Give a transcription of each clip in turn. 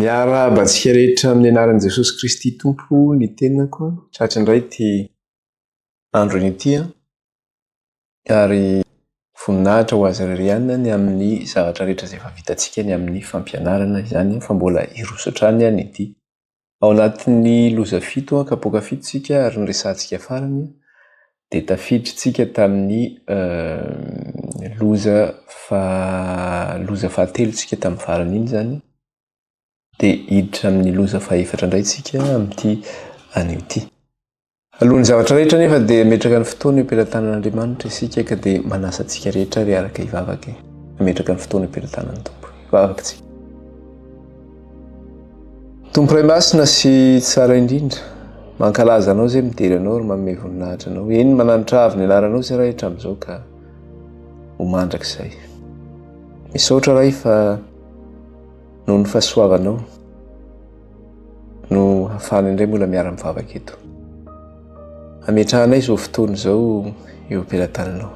Miarahaba antsika rehetra amin'ny anaran'i Jesosy Kristy Tompo ny tenako. Tratra indray ity andro ity ary voninahitra ho azy irery ihany ny amin'ny zavatra rehetra izay efa vitantsika ny amin'ny fampianarana izany fa mbola hiroso hatrany ny ity. Ao anatin'ny loza fito an, kapoaka fito tsika ary ny resahantsika farany an, dia tafiditry tsika tamin'ny loza faha, loza fahatelo tsika tamin'ny farany iny izany, dia hiditra amin'ny loza fahefatra indray tsika amin'ity anio ity. Alohan'ny zavatra rehetra anefa dia ametraka ny fotoana eo am-pelatanan'Andriamanitra isika ka dia manasa antsika rehetra ary araka hivavaka e. Ametraka ny fotoana eo am-pelatanan'ny Tompo. Hivavaka tsika. Tompo Ray Masina sy Tsara indrindra, mankalaza Anao izay midera Anao ary manome voninahitra Anao. Eny, mananitra avo ny anaranao izay Ray hatramin'izao ka ho mandrakizay. Misaotra Ray fa noho ny fahasoavanao. no hafahana indray mbola miara mivavaka eto. Ametrahanay izao fotoana izao eo am-pelatananao.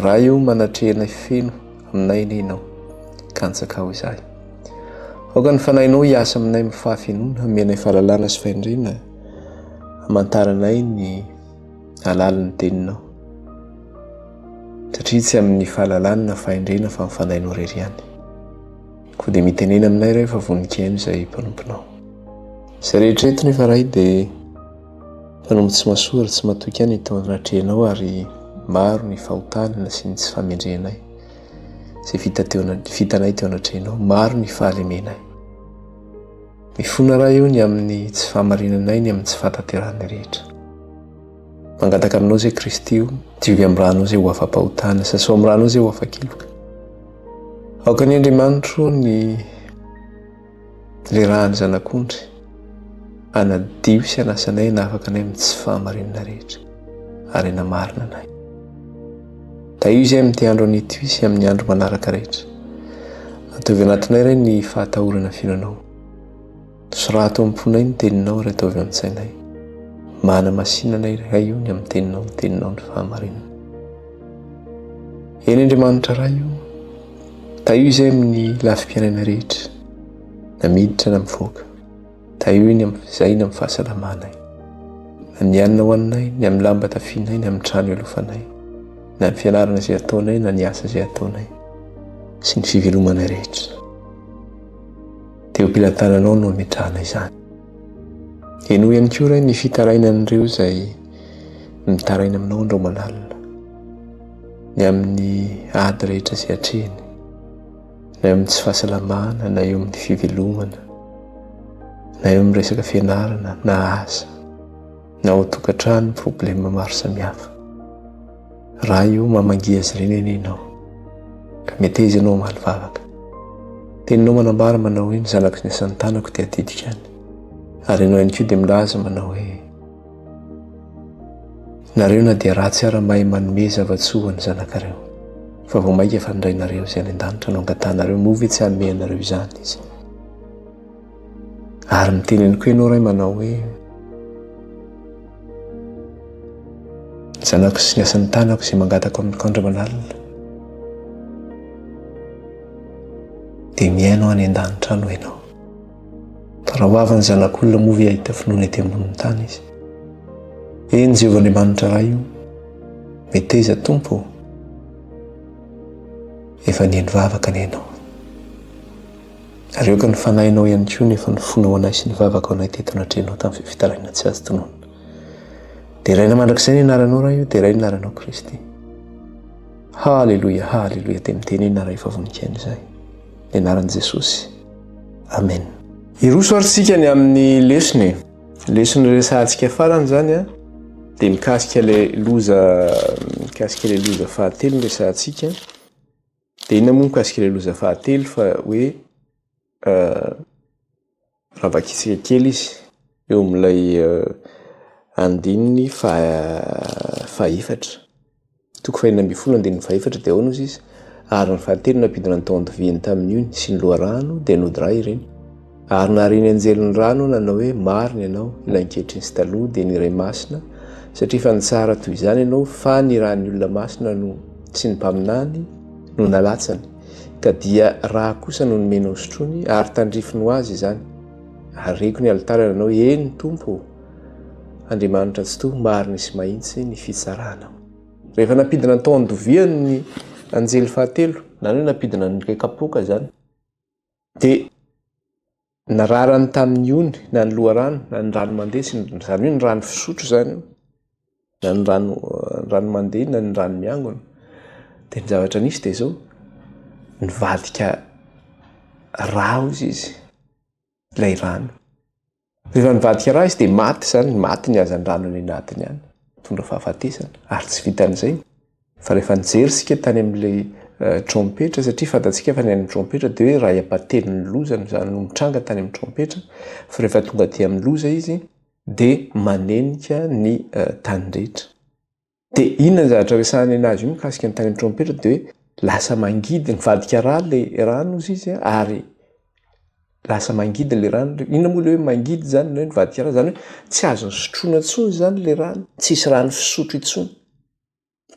Raha eo manatrehanay feno aminay anie ianao, kantsakao izahay. Aoka ny fanahinao hiasa aminay amin'ny fahafenoana, hamenay fahalalana sy fahendrena, hamantaranay ny alalin'ny teninao. Satria tsy amin'ny fahalalana na fahendrena fa amin'ny fanahinao irery ihany. Koa dia mitenena aminay iray fa vonikeno izay mpanomponao. Izay rehetra eto nefa ray dia mpanompo tsy masoa ary tsy matoky any tao anatrehanao ary maro ny fahotana sy ny tsy famendrehanay. Izay vita teo vitanay teo anatrehanao, maro ny fahalemenay. Mifona raha eo ny amin'ny tsy fahamarinanay, ny amin'ny tsy fahatanterahanay rehetra. Mangataka aminao izay Kristy o, diovy amin'ny rano izay ho afa-pahotana, sasao amin'ny rano izay ho afa-keloka. Aoka ny Andriamanitro ny lerahan'ny zanak'ondry, anadio sy anasanay hanafaka anay amin'ny tsy fahamarinana rehetra, ary hanamarina anay. Tahio izay amin'ity andro an'ity sy amin'ny andro manaraka rehetra. Ataovy anatinay ray ny fahatahorana fino anao. Soraha ato amin'ny fonay ny teninao ary ataovy an-tsainay. Mba hanamasinanay ry Ray o ny amin'ny teninao ny teninao ny fahamarinana. Eny Andriamanitra Ray o, tahio izay amin'ny lafim-piainana rehetra, na miditra na mivoaka. Tahio ny amin'ny izay ny amin'ny fahasalamanay, na ny hanina hohaninay, ny amin'ny lamba tafianay, ny amin'ny trano ialofanay, na ny fianarana izay ataonay na ny asa izay ataonay, sy ny fivelomanay rehetra. dia ho pilantananao no ametrahana izany. Henoy ihany koa Ray ny fitarainan'ireo izay mitaraina aminao andro aman'alina, ny amin'ny ady rehetra izay atrehiny, na eo amin'ny tsy fahasalamana, na eo amin'ny fivelomana, na eo amin'ny resaka fianarana, na asa, na ao tokantrano problema maro samihafa. Raha io mamangia azy ireny anie ianao, ka meteza ianao hamaly vavaka. Teninao manambara manao hoe ny zanako sy ny asan'ny tanako dia adidiko ihany. Ary ianao ihany koa dia milaza manao hoe nareo na dia ratsy ara mahay manome zava-tsoa ho an'ny zanakareo. Fa vao mainka efa nirainareo izay any an-danitra no angatahanareo, moa ve tsy hanome anareo izany Izy? Ary miteny ihany koa ianao ray manao hoe zanako sy ny asan'ny tanako izay mangatako amin'ny kandra manalina dia mihaino any an-danitra any ianao. Fa raha ho avin'ny zanak'olona moa ve hahita finoana ety ambonin'ny tany izy? Eny Jehovah Andriamanitra Ray io, meteza Tompo, efa nihaino vavaka ny ianao. Areoko ny fanahinao ihany koa nefa ny fonao anay sy ny vavaka anay teto natrehinao tamin'ny fifitarainana tsy azo tononina. Deraina mandrakizay ny anaranao Ray o, deraina ny anaranao Kristy. Haleloia, haleloia, dia mitenena Ray fa voninkaina izahay. Ny anaran'i Jesosy. Amen. Hiroso ary tsika ny amin'ny lesona e. Lesona resahantsika farany zany a, dia mikasika ilay loza mikasika ilay loza fahatelo no resahantsika. Dia inona moa mikasika ilay loza fahatelo fa hoe raha vakitsika kely izy eo amin'ilay andininy fahaefatra, toko fahenina ambin'ny folo andininy fahaefatra dia ahoana hozy izy? Ary ny fahatelo nampidina ny taon-diviany tamin'io sy ny loharano dia nody ra ireny. Ary nahare ny anjelin'ny rano nanao hoe, Marina ianao, ilay ankehitriny sy taloha, dia ny Iray Masina, satria efa nitsara toy izany ianao, fa ny ran'ny olona masina no, sy ny mpaminany, no nalatsany, ka dia rà kosa no nomenao hosotroiny, ary tandrifiny ho azy izany. Areko ny alitara nanao hoe, Eny, Tompo ô! Andriamanitra Tsitoha, marina sy mahitsy ny fitsaranao. Rehefa nampidina ny tao an-doviany ny anjely fahatelo, na ny hoe nampidina ny kapoaka izany, Dia ny rarany tamin'ny ony na ny loharano na ny rano mandeha sy ny izany hoe ny rano fisotro izany io na ny rano ny rano mandeha na ny rano miangona dia ny zavatra nisy dia izao nivadika raozy izy ilay rano Rehefa nivadika ra izy dia maty izany, maty ny hazandrano any anatiny any, mitondra fahafatesana. Ary tsy vitan'izay, fa rehefa nijery isika tany amin'ilay eh, trompetra, satria fantatsika fa ny any trompetra dia hoe ray ampatelon'ny loza no izany no mitranga tany amin'ny trompetra, fa rehefa tonga aty amin'ny loza izy dia manenika ny eh, tany rehetra. Dia inona ny zavatra resahany anazy io mikasika ny tany amin'ny trompetra dia hoe lasa mangidy nivadika ra le rano ozy izy a ary lasa mangidy le rano le inona moa le hoe mangidy zany na hoe nivadika ra zany hoe tsy azony sotroina intsony zany le rano tsisy rano fisotro intsony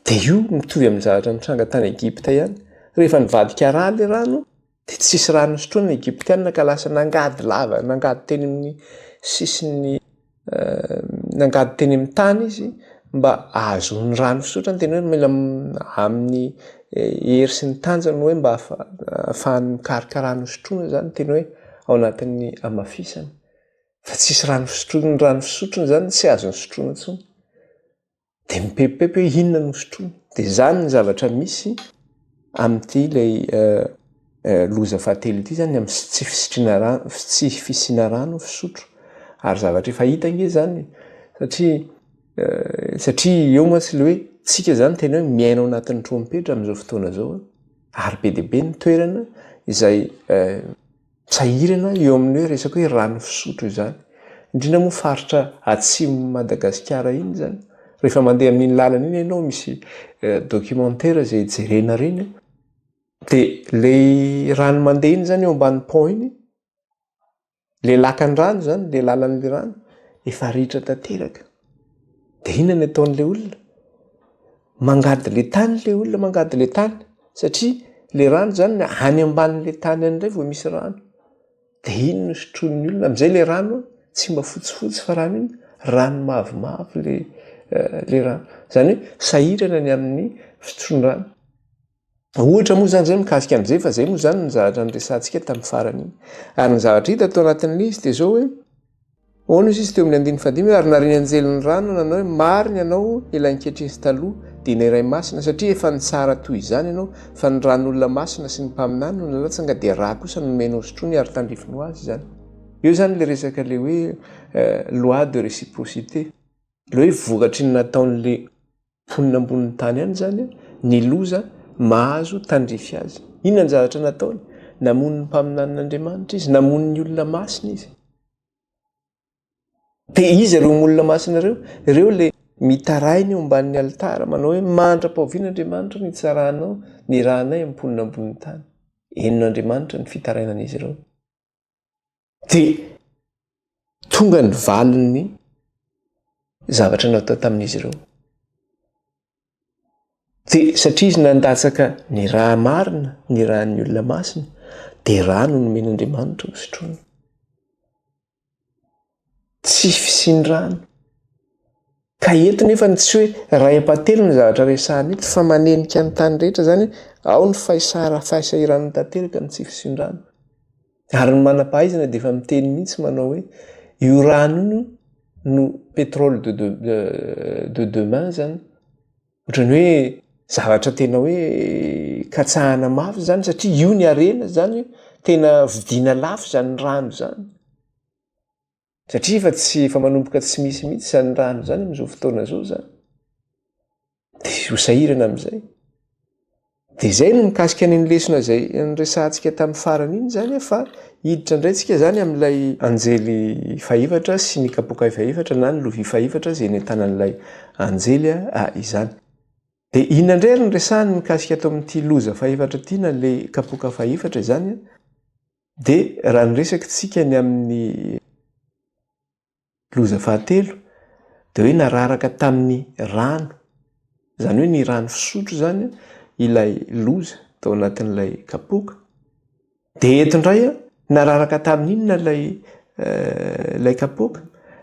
dia io mitovy amin'ny zavatra nitranga tany Egypta ihany rehefa nivadika ra le rano Dia tsisy rano nisotroany ny Egyptiana ka lasa nangady lava, nangady teny amin'ny sisin'ny, nangady teny amin'ny tany izy mba hahazoany rano fisotrany, tena hoe mila amin'ny hery sy ny tanjany hoe mba hahafahany mikaroka rano hisotroana izany, tena hoe ao anatin'ny hamafisana fa tsisy rano fisotroana, ny rano fisotrony izany tsy azony sotroina intsony. dia mipepipepy hoe inona no sotroiny. Dia izany ny zavatra misy amin'ity ilay eh, eh, loza fahatelo ity izany, amin'ny tsy fisitriana rano, tsy fisiana rano fisotro. Ary zavatra efa hita ange izany, satria eh, satria eo mantsy ilay hoe tsika izany tena hoe miaina ao anatin'ny trompetra amin'izao fotoana izao, ary be dia be ny toerana izay Sahirana eo amin'ny hoe resaka hoe rano fisotro izany, indrindra moa faritra atsimon'i Madagasikara iny izany. Rehefa mandeha amin'iny lalana iny ianao misy documentaire izay jerena ireny dia ilay rano mandeha iny izany eo ambany pont iny, ilay lakan-drano izany, ilay lalan'ilay rano efa ritra tanteraka. Dia inona no ataon'ilay olona? Mangady ilay tany ilay olona, mangady ilay tany satria ilay rano izany any ambanin'ilay tany any indray vao misy rano. Dia iny no sotroin'ny olona. Amin'izay ilay rano tsy mba fotsifotsy fa rano inona? Rano mavomavo ilay eh, ilay rano. Izany hoe sahirana ny amin'ny fisotroan-drano. Ohatra moa izany izay mikasika an'i Jeff, izay moa izany ny zavatra niresahantsika tamin'ny farany iny. Ary ny zavatra hita tao anatin'ilay izy dia izao hoe, Hono hozy izy teo amin'ny andininy fahadimy, ary narian'ny anjely ny rano nanao hoe, Marina ianao ilay ankehitriny sy taloha, dia ny Iray Masina, satria efa nitsara toy izany ianao, fa ny ran'olona masina sy ny mpaminany no nalatsanga, dia rà kosa no nomenao sotroiny ary tandrifiny ho azy izany. Eo izany ilay resaka ilay hoe loi de réciprocité, ilay hoe vokatry ny nataon'ilay Mponina ambonin'ny tany any izany ny loza mahazo tandrify azy. Inona ny zavatra nataony? Namono ny mpaminanin'Andriamanitra izy, namono ny olona masina izy. Dia iza ireo olona masina ireo? Ireo ilay mitaraina eo ambanin'ny alitara manao hoe mandra-pahoviana Andriamanitra no hitsarahanao ny ranay amin'ny mponina ambonin'ny tany? Henon'Andriamanitra ny fitarainan'izy ireo. Dia tonga ny valin'ny zavatra natao tamin'izy ireo. Dia satria izy nandatsaka ny raha marina, ny rahan'ny olona masina, dia rano no nomen'Andriamanitra ho sotroina. Tsy fisian-drano. Ka eto nefa ny tsy hoe iray ampatelo ny zavatra resahana eto fa manenika ny tany rehetra izany hoe ao ny faisara fahaisahiran'ny tanteraka ny tsy fisindrana. Ary ny manampahaizana dia efa miteny mihitsy manao hoe io rano io no pétrole de de de demain izany. Ohatran'ny hoe zavatra tena hoe katsahana mafy izany satria io ny harena izany, tena vidiana lafo izany rano izany. Satria efa tsy efa manomboka tsy misy mihitsy izany rano izany amin'izao fotoana izao izany. Dia ho sahirana amin'izay. Dia izay no mikasika any ny lesona izay niresahantsika tamin'ny farany iny izany fa hiditra indray tsika izany amin'ilay anjely fahefatra sy ny kapoka fahefatra na ny lovia fahefatra izay nentanan'ilay anjely ah, izany. Dia inona indray ary ny resahany mikasika ato amin'ity loza fahefatra ity na ilay kapoka fahefatra izany an? Dia raha ny resaka tsika ny amin'ny loza fahatelo dia hoe nararaka tamin'ny rano, izany hoe ny rano fisotro izany ilay loza tao anatin'ilay kapoaka. Dia eto indray nararaka tamin'inona ilay ilay kapoaka,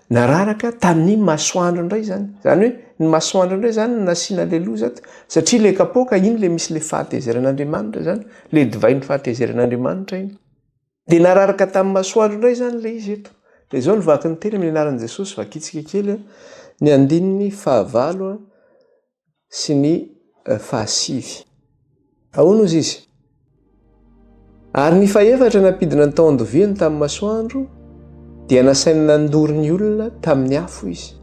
nararaka tamin'ny masoandro indray izany. Izany hoe ny masoandro indray izany no nasiana ilay loza ato, satria ilay kapoaka iny ilay misy ilay fahatezeran'Andriamanitra izany, ilay divain'ny fahatezeran'Andriamanitra iny. Dia nararaka tamin'ny masoandro indray izany ilay izy eto. Dia izao no vaky ny teny amin'ny anaran'i Jesosy, vakitsika kely ny andininy fahavalo. sy ny fahasivy. Ahoana hozy izy? Ary ny fahefatra nampidina ny tao andoviany tamin'ny masoandro dia nasainy nandoro ny olona tamin'ny afo izy.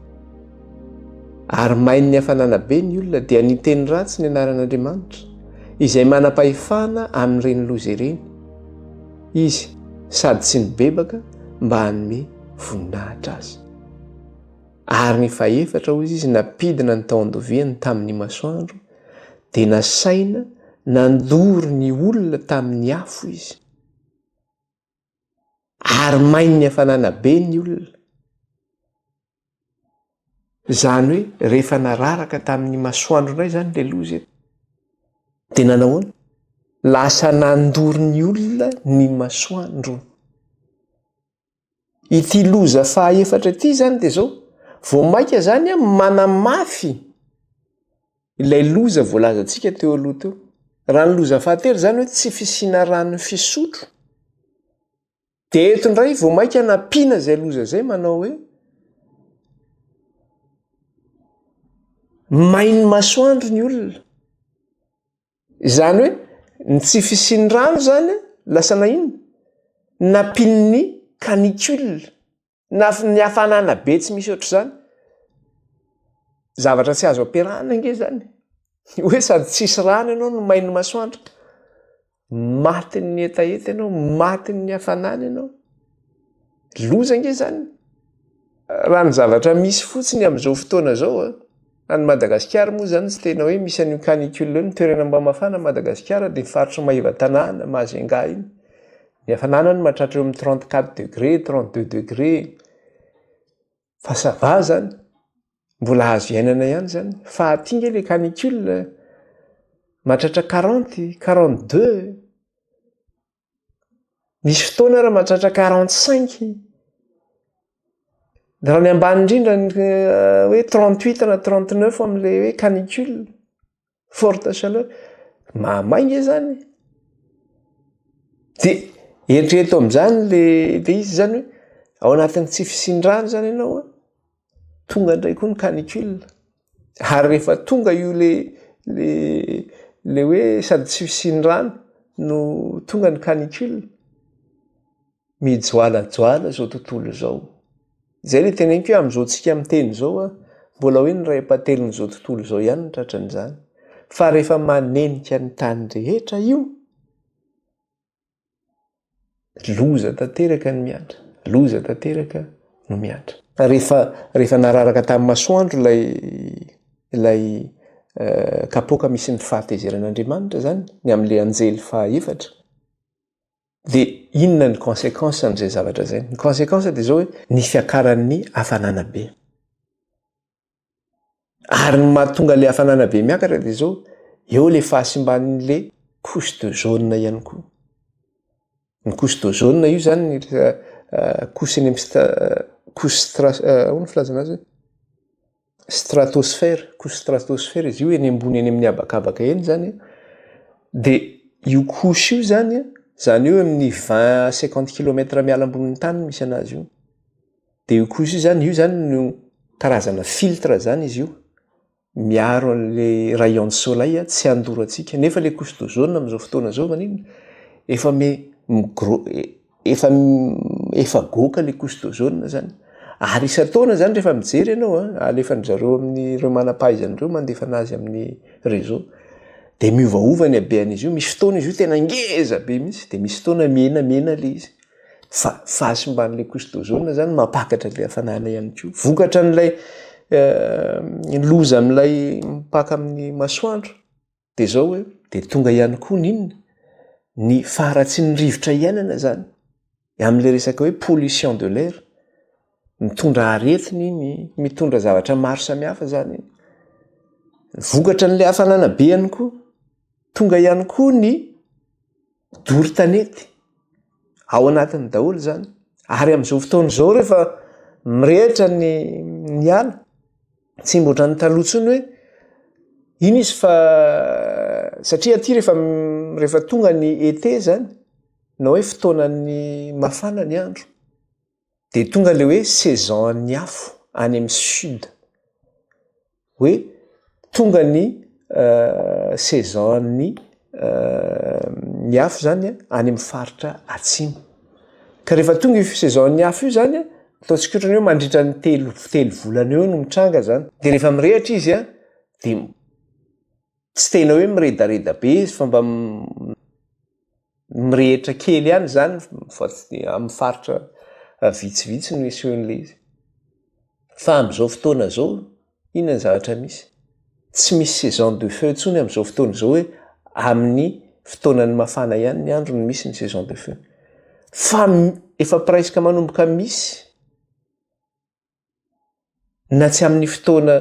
Ary main'ny hafanana be ny olona dia niteny ratsy ny anaran'Andriamanitra izay manam-pahefana amin'ireny loza ireny izy sady tsy nibebaka mba hanome voninahitra azy. Ary ny fahefatra, hoy izy, nampidina ny tao andoviany tamin'ny masoandro, dia nasaina nandoro ny olona tamin'ny afo izy, ary main'ny hafanana be ny olona. Izany hoe rehefa nararaka tamin'ny masoandro indray izany ilay loza eto, dia nanahoana? Lasa nandoro ny olona ny masoandro. Ity loza faha efatra ity izany dia izao, vao mainka izany an, manamafy ilay loza voalazantsika teo aloha teo. Raha ny loza fahatelo izany hoe tsy fisiana rano fisotro, dia eto indray vao mainka nampiana izay loza izay manao hoe, main'ny masoandro ny olona. Izany hoe ny tsy fisian'ny rano izany lasa na inona? Nampian'ny canicule na ny hafanana be tsy misy ohatr'izany. Zavatra tsy azo ampiarahana ange izany e! Hoe sady tsisy rano ianao no main'ny masoandro, matin'ny hetaheta ianao, matin'ny hafanana ianao. Loza ange izany raha ny zavatra misy fotsiny amin'izao fotoana izao a! Any Madagasikara moa izany tsy tena hoe misy an'io canicule io, ny toerana mba mafana Madagasikara dia ny faritry ny Maevatanàna, Majunga iny. Ny hafanana any mahatratra eo amin'ny trente quatre degré, trente deux degré fa ça va izany, mbola azo iainana ihany izany fa aty ange ilay canicule mahatratra quarante, quarante deux. Nisy fotoana ary mahatratra quarante cinq, raha ny ambany indrindra ny eh, hoe trente huit na trente neuf amin'ilay hoe canicule, forte chaleur, mahamay nge zany. De eritrereto amin'izany le le izy zany hoe ao anatin'ny tsy fisian-drano zany ianao an, Tonga indray koa ny canicule. Ary rehefa tonga io le le le hoe sady tsy fisian'ny rano no tonga ny canicule. Mijoalajoala izao tontolo izao. Izay le teneniko hoe amin'izao tsika miteny izao a, mbola hoe ny ray ampahatelon'izao tontolo izao ihany no tratran'izany. Fa rehefa manenika ny tany rehetra io, Loza tanteraka ny miantra. Loza tanteraka no miantra. Rehefa, rehefa nararaka tamin'ny masoandro ilay, ilay eh, kapoaka misy ny fahatezeran'Andriamanitra izany, ny amin'ilay anjely fahaefatra, dia inona ny conséquence an'izay zavatra izay? Ny conséquence dia izao hoe, ny fiakaran'ny hafanana be. Ary ny mahatonga ilay hafanana be miakatra dia izao, eo ilay fahasimban'ilay couche de jaune ihany koa. Ny couche de jaune io izany ny couche eny amin'ny couche stra- ahoana ny filazana azy hoe? Stratosphère, couche stratosphère izy io eny ambony eny amin'ny habakabaka eny izany an, dia io couche io izany an, izany hoe eo amin'ny vingt à cinquante kilomètre miala ambonin'ny tany no misy an'azy io. dia io kosa io zany io zany no karazana filtre zany izy io miaro an'le rayon de soleil tsy handoro antsika nefa le couche d'ozone amin'izao fotoana zao maninona efa me migro- efa efa goaka le couche d'ozone zany ary isan-taona zany rehefa mijery ianao an alefan'ny zareo amin'ny ireo manam-pahaizana ireo mandefa anazy amin'ny réseau dia miovaova ny habehan'izy io misy fotoana izy io tena ngeza be mihitsy dia misy fotoana mena mena le izy Fa fahasimban'ilay Cristozona izany mampakatra ilay hafanana ihany koa. Vokatra an'ilay eh, loza amin'ilay mipaka amin'ny masoandro. Dia izao hoe, dia tonga ihany koa ny inona? Ny faharatsian'ny rivotra iainana izany. Amin'ilay resaka hoe pollution de l'air. Mitondra aretina iny, mitondra zavatra maro samihafa izany iny. Vokatra an'ilay hafanana be ihany koa. Tonga ihany koa ny doro tanety. Ao anatiny daholo izany. Ary amin'izao fotoana izao rehefa mirehitra ny ny ala, tsy mba ohatran'ny taloha intsony hoe iny izy fa satria aty rehefa rehefa tonga ny été izany na hoe fotoanan'ny mafana ny andro. Dia tonga ilay hoe saison an'ny afo any amin'ny sud. Hoe tonga ny saison an'ny ny afo izany any amin'ny faritra atsimo. Ka rehefa tonga io saison an'ny afo io izany, ataontsika ohatra ny hoe mandritra ny telo telo volana eo no mitranga izany. Dia rehefa mirehitra izy dia Tsy tena hoe miredareda be izy fa mba mirehitra kely ihany izany fa amin'ny faritra vitsivitsy no isehoan'ilay izy. Fa amin'izao fotoana izao, inona ny zavatra misy? Tsy misy saison de feu intsony amin'izao fotoana izao hoe amin'ny fotoanan'ny mafana ihany ny andro no misy ny saison de feu. Fa efa presque manomboka misy. Na tsy amin'ny fotoana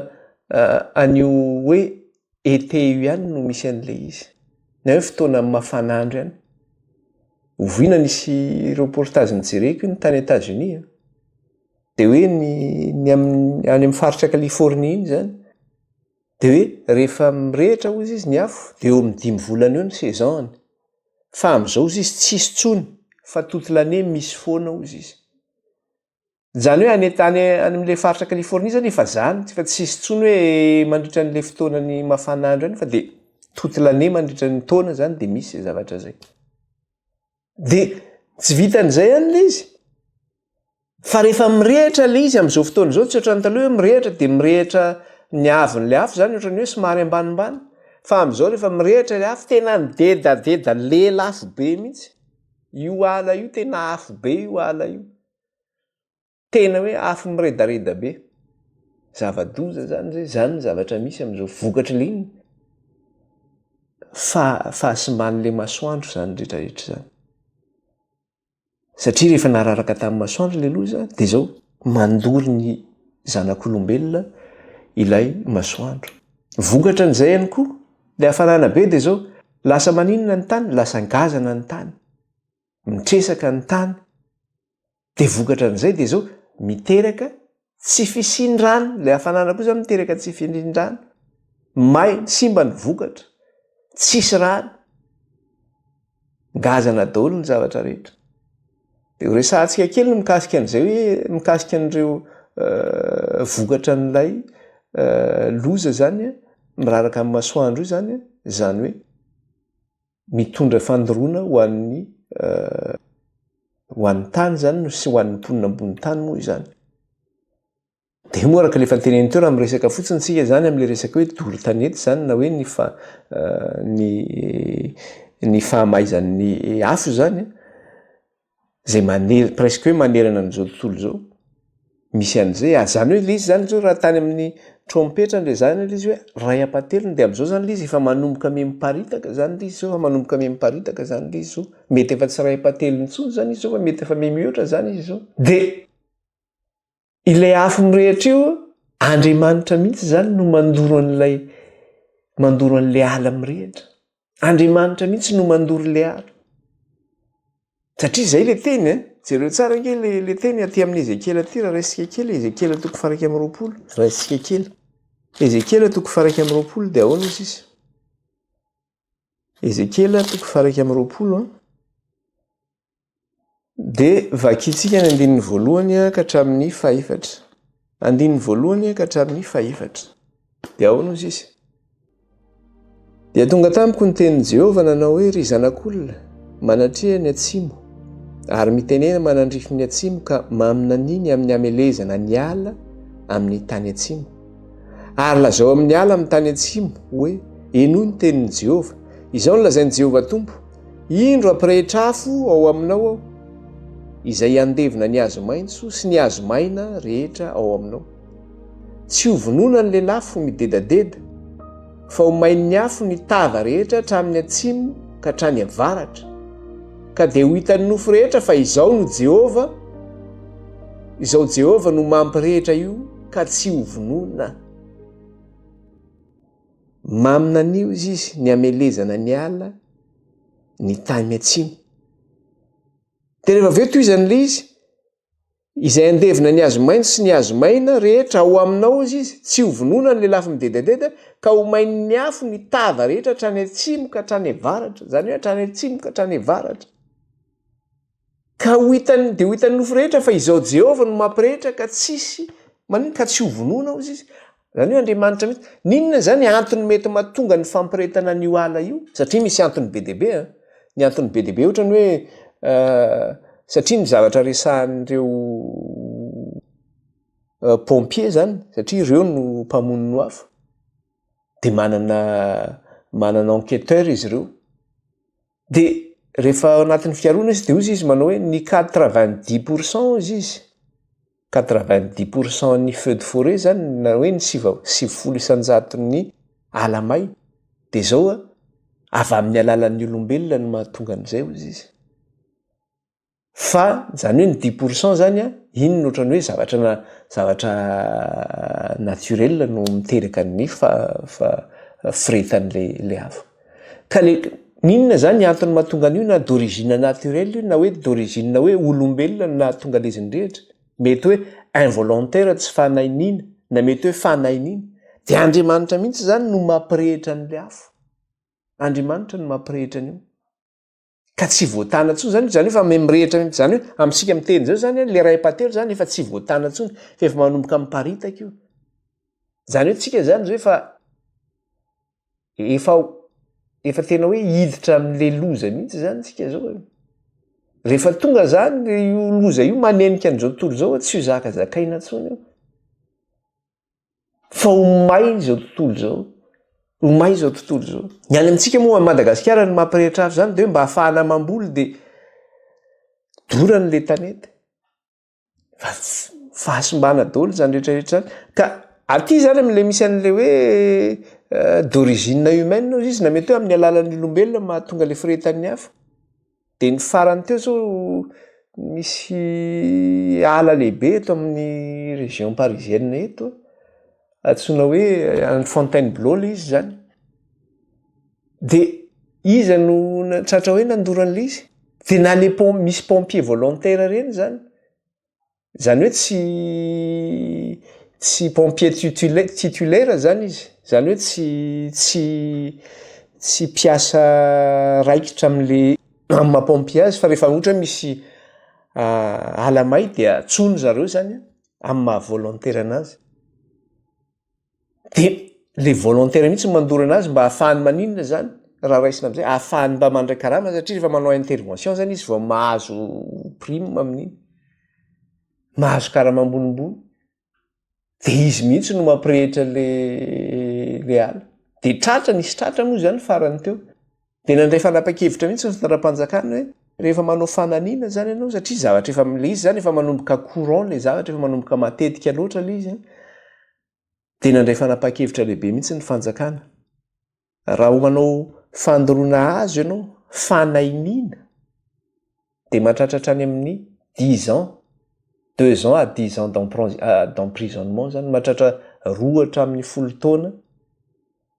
an'io hoe été io ihany no misy an'ilay izy, na hoe fotoana amin'ny mafana andro ihany. Oviana nisy reportage nijereko iny tany Etazonia an, dia hoe ny ny amin'ny any amin'ny faritra Californie iny izany dia hoe rehefa mirehitra hozy izy ny afo dia eo amin'ny dimy volana eo ny saison-ny, fa amin'izao hozy izy tsisy intsony fa toute l'année misy foana hozy izy. Izany hoe any an-tany any amin'ilay faritra Californie izany efa izany, fa tsy hisy intsony hoe mandritra an'ilay fotoanan'ny mafan'andro any fa dia toute l'année mandritra ny taona izany dia misy izay zavatra izay. Dia tsy vitan'izay any ilay izy. Fa rehefa mirehitra ilay izy amin'izao fotoana izao, tsy ohatran'ny taloha hoe mirehitra dia mirehitra ny haavon'ilay afo izany ohatran'ny hoe somary ambanimbany. Fa amin'izao rehefa mirehitra ilay afo, tena midedadeda, lela afo be mihitsy. Io ala io tena afo be io ala io. Tena hoe afo miredareda be. Zava-doza izany izay, izany ny zavatra misy amin'izao. Vokatry ilay inona? Fahasimban'ilay masoandro izany rehetra rehetra izany. Satria rehefa nararaka tamin'ny masoandro ilay loza dia izao mandoro ny zanak'olombelona ilay masoandro. Vokatra an'izay ihany koa, ilay hafanana be dia izao, lasa maninona ny tany? Lasa ngazana ny tany. mitresaka ny tany dia vokatra an'izay dia zao miteraka tsy fisian-drano ilay hafanana koa zany miteraka tsy fisian-drano may simba ny vokatra tsisy rano ngazana daholo ny zavatra rehetra dia ho resahantsika kely ny mikasika an'izay hoe mikasika an'ireo euh, vokatra an'ilay euh, loza zany miraraka amin'ny masoandro io zany zany hoe Mitondra fandoroana ho an'ny ho an'ny tany izany no sy ho an'ny mponina ambony tany moa izany. Dia moa araka ilay fanteneniny teo raha miresaka fotsiny isika izany amin'ilay resaka hoe doro tanety izany na hoe ny fa ny ny fahamaizan'ny afo izany zay maner presque hoe manerana an'izao tontolo izao misy an'izay ary zany hoe le izy zany zao raha tany amin'ny trompetra ndray zany le izy hoe iray ampahatelony de am'zao zany le izy efa manomboka mihamiparitaka zany le izy zao fa manomboka mihamiparitaka zany le izy zao mety efa tsy iray ampahatelony intsony zany izy zao fa mety efa mihamihoatra zany izy zao de Ilay afo mirehitra io, Andriamanitra mihitsy izany no mandoro an'ilay mandoro an'ilay ala mirehitra. Andriamanitra mihitsy no mandoro ilay ala. Satria izay ilay teny e, jereo tsara ange ilay ilay teny aty amin'ny Ezekiela aty raha raisika kely Ezekiela toko faraika amin'ny roapolo, raisika kely. Ezekiela toko faraika amin'ny roapolo dia ahoana izy izy? Ezekiela toko faraika amin'ny roapolo an. Dia vakintsika ny andininy voalohany ka hatramin'ny fahefatra. Andininy voalohany ka hatramin'ny fahefatra. Dia ahoana hoy izy? Dia tonga tamiko ny tenin'i Jehovah nanao hoe, Ry zanak'olona, manatreha ny atsimo, ary mitenena manandrify ny atsimo ka maminaniny amin'ny hamelezana ny ala amin'ny tany atsimo. Ary lazao amin'ny ala amin'ny tany atsimo hoe, Henoy ny tenin'i Jehovah. Izao no lazain'i Jehovah Tompo, Indro hampirehitra afo ao aminao aho, izay handevona ny hazo maitso sy ny hazo maina rehetra ao aminao. Tsy ho vonoina ny lelafo midedadeda, fa ho main'ny afo ny tava rehetra hatramin'ny atsimo ka hatrany avaratra. Ka dia ho hitan'ny nofo rehetra fa izao no Jehovah, izao Jehovah no mampirehitra io ka tsy ho vonoina. Maminanio izy izy ny hamelezana ny ala ny tany atsimo. Dia rehefa avy eo tohizany ilay izy, izay andevina ny hazo maitso sy ny hazo maina rehetra ao aminao izy izy, tsy ho vonoina ny lelafo midedadeda, ka ho main'ny afo ny tava rehetra hatrany atsimo ka hatrany avaratra, izany hoe hatrany atsimo ka hatrany avaratra. Ka ho hitan'ny, dia ho hitan'ny nofo rehetra fa Izaho Jehovah no mampirehetra ka tsisy maninona, ka tsy ho vonoina hozy izy. Izany hoe Andriamanitra mihitsy. N'inona izany antony mety mahatonga ny fampirehetana an'io ala io? Satria misy antony be dia be an! Ny antony be dia be ohatra ny hoe satria ny zavatra resahan'ireo pompiers izany, satria ireo no mpamono ny afo, dia manana manana enquêteurs izy ireo. Dia rehefa ao anatin'ny fiaroana izy dia hoy izy manao hoe ny quatre vingt dix pour cent hoy izy quatre vingt dix pour cent ny feu de forêt izany na hoe ny sivy sivifolo isan-jaton'ny ala may dia izao avy amin'ny alalan'ny olombelona no mahatonga an'izay hoy izy. Fa zany hoe ny dix pour cent zany an, iny no otrany hoe zavatra na zavatra naturel no miteraka ny fa fa firehetan'ilay ilay afo. Ka le inona zany ny antony mahatonga an'io na d'origine naturel io na hoe d'origine hoe olombelona no nahatonga an'izy nirehitra. Mety hoe involontaire tsy fanahy nina na mety hoe fanahy nina. De Andriamanitra mihitsy zany no mampirehitra an'ilay afo. Andriamanitra no mampirehitra an'io. ka tsy voatana ntsony zany zany efa me mirehitra mihitsy zany hoe amintsika miteny izao zany le ray patelo zany efa tsy voatana ntsony fa efa manomboka miparitaka io zany hoe tsika zany zao efa efa efa tena hoe hiditra amle loza mihitsy zany tsika zao e rehefa tonga zany le io loza io manenika an'izao tontolo zao tsy ho zakazakaina ntsony io fa ho may izao tontolo izao, ho may izao tontolo izao. Ny any amintsika moa, Madagasikara ny mampirehitra azy izany dia hoe mba hahafahana mamboly dia dorana ilay tanety. Fa fahasimbana daholo izany rehetra rehetra izany. Ka aty izany amin'ilay misy an'ilay hoe euh, d'origine humaine hozy izy, na mety hoe amin'ny alalan'ny olombelona mahatonga ilay firehetan'ny hafa. Dia ny farany teo zao misy ala lehibe eto amin'ny région parisienne eto, antsoina hoe any Fontainebleau ilay izy zany. Dia iza no tratra hoe nandoro an'ilay izy? Dia na le pom- misy pompier volontaire ireny zany Zany hoe tsy tsy pompier titulaire zany izy. Zany hoe tsy tsy tsy mpiasa raikitra amin'le amin'ny maha pompier azy fa rehefa ohatra hoe misy ala may dia antsoiny zareo zany amin'ny maha volontaire anazy. de le volontaire mihitsy no mandoro anazy mba hahafahany maninona zany raha raisina am'zay, hahafahany mba mandray karama satria rehefa manao intervention zany izy vao mahazo prime amin'iny, mahazo karama ambonimbony, de izy mihitsy no mampirehitra le le hala, de tratra, nisy tratra moa zany farany teo. Dia nandray fanapan-kevitra mihitsy ny fitondram-panjakana hoe rehefa manao fanamiana izany ianao satria zavatra efa ilay izy izany efa manomboka courant ilay zavatra efa manomboka matetika loatra ilay izy dia nandray fanapan-kevitra lehibe mihitsy ny fanjakana raha ho manao fandoroana azo ianao fanainiana dia mahatratra hatrany amin'ny dix ans, deux ans à dix ans d'emprisonnement izany, mahatratra roa hatramin'ny folo taona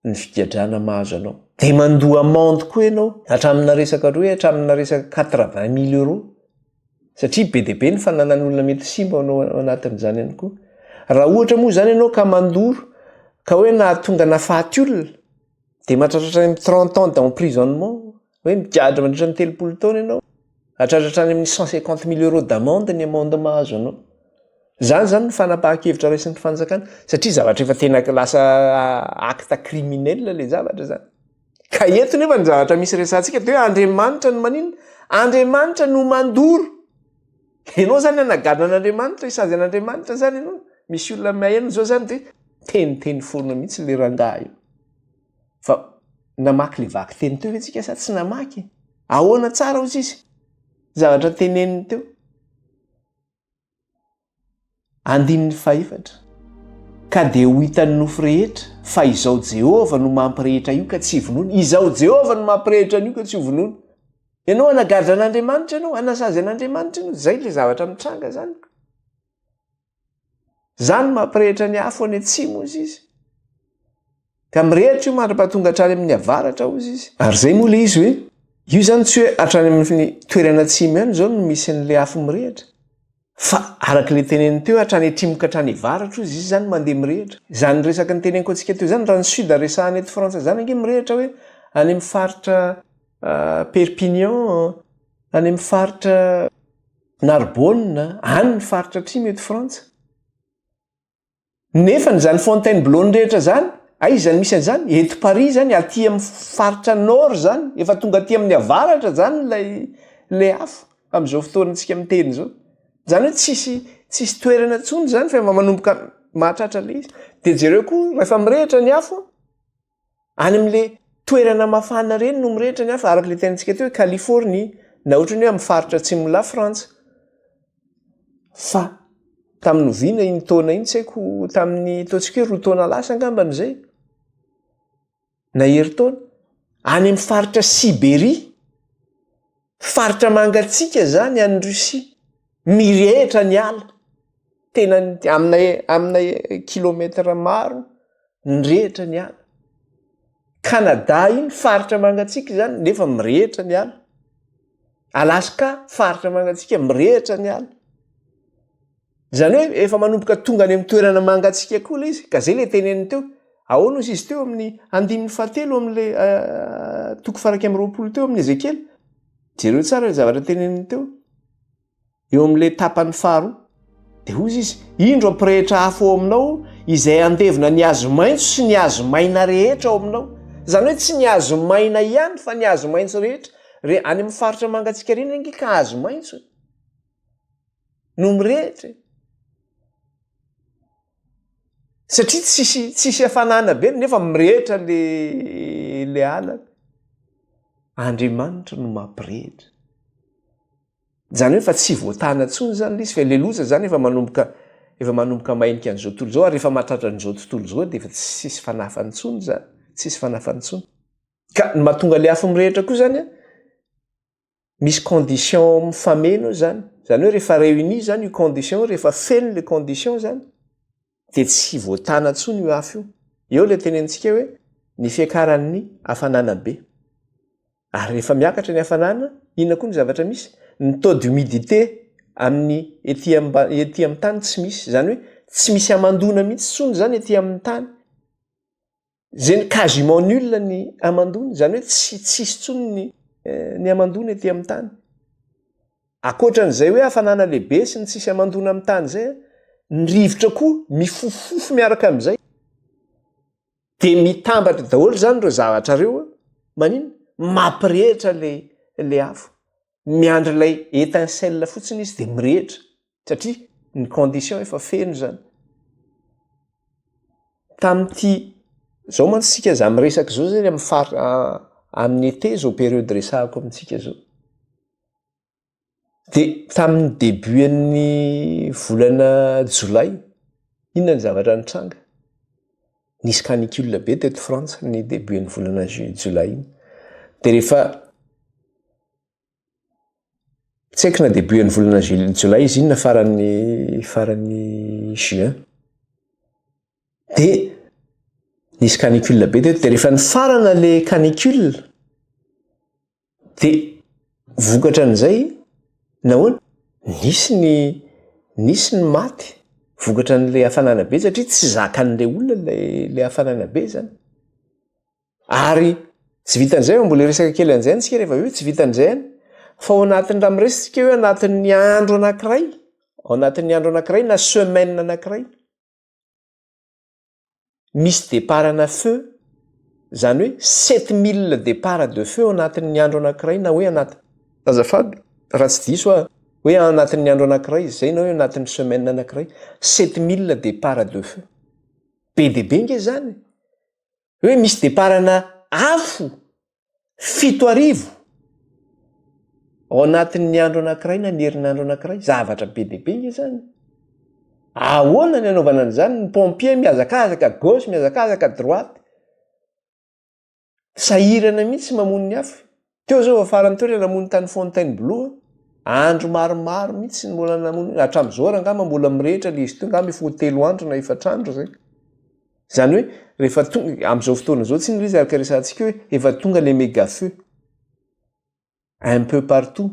ny figadrana mahazo anao. Dia mandoa amende koa ianao, hatramina resaka hoe hatramina resaka quatre vingt mille euros, satria be dia be ny fananan'olona mety ho simba ao anatin'izany ihany koa. Raha ohatra moa izany ianao ka mandoro ka hoe nahatonga nahafaty olona, dia mahatratra hatrany amin'ny trente ans d'emprisonnement. hoe migadra mandritra ny telopolo taona ianao, hahatratra hatrany amin'ny cent cinquante mille euros d'amende ny amende mahazo anao. Izany izany no fanapahan-kevitra raisin'ny fanjakana satria zavatra efa tena lasa acte criminel ilay zavatra izany. Ka eto nefa ny zavatra misy resahantsika dia hoe Andriamanitra no maninona? Andriamanitra no mandoro. Ianao izany hanagadra an'Andriamanitra, hisazy an'Andriamanitra izany ianao? Misy olona maheno izao izany dia hoe teniteny foana mihitsy ilay rangahy io. Fa namaky le vaky teny teo ve tsika sa tsy namaky e? Ahoana tsara hoy tsisy zavatra teneniny teo. Andininy fahefatra. Ka dia ho hitan'ny nofo rehetra fa izao Jehovah no mampirehitra io ka tsy vonono. Izao Jehovah no mampirehitra an'io ka tsy ho vonono. Ianao hanagadra an'Andriamanitra ianao, hanasazy an'Andriamanitra ianao. Izay ilay zavatra mitranga izany. Izany mampirehitra ny afo any atsimo, hozy izy. Ka mirehitra io mandra-pahatonga hatrany amin'ny avaratra, hozy izy. Ary izay moa ilay izy hoe, io izany tsy hoe hatrany amin'ny toerana atsimo ihany izao no misy an'ilay afo mirehitra, fa araka ilay teneniny teo hoe hatrany atrimo ka hatrany avaratra, hozy izy, izany mandeha mirehitra. Izany resaka niteneniko antsika teo izany, raha ny sud resahana eto Frantsa izany ange mirehitra hoe any amin'ny faritra Perpignan, any amin'ny faritra. Narbonne, any ny faritra atsimo eto Frantsa. Nefa ny zany Fontainebleau-ny rehetra zany, aiza no misy an'izany? Eto Paris zany, aty amin'ny faritra Nord zany, efa tonga aty amin'ny avaratra zany ilay ilay afo amin'izao fotoana antsika miteny izao. Zany hoe tsisy tsisy toerana intsony zany fa efa manomboka mahatratra le izy. De jereo koa rehefa mirehitra ny afo, Any amin'ilay toerana mafana ireny no mirehitra ny hafa, araka ilay tenintsika teo hoe Californie, na ohatry ny hoe amin'ny faritra atsimon'i Lafrantsa. Fa tamin'ny oviana iny taona iny, tsy haiko, tamin'ny ataontsika hoe roa taona lasa angambany izay, na herintaona, any amin'ny faritra Siberia, Faritra mangatsiaka izany any Russie, mirehitra ny ala, tena amina amina kilometatra maro mirehitra ny ala. Canada iny faritra mangatsiaka izany nefa mirehitra ny ala. Alaska faritra mangatsiaka mirehitra ny ala. Izany hoe efa manomboka tonga any amin'ny toerana mangatsiaka koa ilay izy, ka izay ilay teneniny teo. Ahoana hozy izy teo amin'ny andininy fahatelo amin'ilay toko faha iraika amby roapolo teo amin'ny Ezekiela? Jereo tsara ilay zavatra teneniny teo. Eo amin'ilay tapany faharoa. Dia hozy izy, indro ampirehitra afo ao aminao izay handevona ny hazo maitso sy ny hazo maina rehetra ao aminao. Izany hoe tsy ny hazo maina ihany fa ny hazo maitso rehetra. Re, any amin'ny faritra mangatsiaka reny ange ka hazo maitso e. no mirehitra e. Satria tsisy tsisy hafanana be nefa mirehitra le le alana. Andriamanitra no mampirehitra. Zany hoe fa tsy voatana intsony zany le izy fa le loza zany efa manomboka efa manomboka mainka an'izao tontolo izao ary efa mahatratra an'izao tontolo izao dia efa tsisy fanafany intsony zany, tsisy fanafany intsony. Ka ny mahatonga le afo mirehitra koa zany an, misy condition mifameno eo zany, zany hoe rehefa réunis zany io condition io, rehefa feno le condition zany de tsy voatana tsony io afo io. Eo le tenenitsika hoe ny fiakaran'ny hafanana be. Ary rehefa miakatra ny hafanana, inona koa ny zavatra misy? Ny taux d'humidité amin'ny ety amba- ety amin'ny tany tsy misy, zany hoe tsy misy hamandoana mihitsy tsony zany ety amin'ny tany. Zay ny quasiment nul ny hamandoana, izany hoe tsy tsisy intsony ny ny hamandoana ety amin'ny tany. Ankoatran'izay hoe hafanana lehibe sy ny tsisy hamandoana amin'ny tany izay, ny rivotra koa mifofofofo miaraka amin'izay. Dia mitambatra daholo izany ireo zavatra ireo maninona? Mampirehitra ilay ilay afo. Miandry ilay étincelle fotsiny izy dia mirehitra. satria ny condition efa feno izany tamin'ity zao mantsy sika za miresaka zao zany amin'ny far amin'ny été zao periode resahako amintsika zao de tamin'ny debut an'ny volana jolay inona ny zavatra nitranga nisy canicule be teto frantsa ny debut an'ny volana jolay iny de rehefa Tsy haiko na debut an'ny volana jul- jolay izy iny na faran'ny faran'ny juin. Dia nisy canicule be teto dia rehefa nifarana le canicule dia vokatra an'izay nahoana? Nisy ny nisy ny maty vokatra an'le hafanana be satria tsy zakan'le olona lay le hafanana be zany. Ary tsy vitan'izay fa mbola hiresaka kely an'izay isika rehefa avy eo, tsy vitan'izay ihany fa ao anatin'ny raha miresaka isika hoe anatin'ny andro anankiray, ao anatin'ny andro anankiray na semaine anankiray, misy départ ana feu, zany hoe sept mille départ de feu ao anatin'ny andro anankiray na hoe anaty, azafady raha tsy diso aho, hoe ao anatin'ny andro anankiray izay na hoe anatin'ny semaine anankiray, sept mille départ de feu. Be dia be ange izany e! hoe misy deparana afo fito arivo ao anatin'ny andro anankiray na ny herinandro anankiray, zavatra be dia be nge zany. Ahoana ny anaovana an'izany? Ny pompier mihazakazaka gauche, mihazakazaka droite, sahirana mihitsy mamono ny afo. Teo zao vao farany teo ilay namono tany Fontainebleau a. Andro maromaro mihitsy ny mbola namono io. Hatramin'izao ary angamba mbola mirehitra ilay izy teo, angamba efa ho telo andro na efatra andro izay. Izany hoe rehefa tonga, amin'izao fotoana izao tsinona ilay izy araka ny resahantsika hoe efa tonga ilay mega feu. Un peu partout.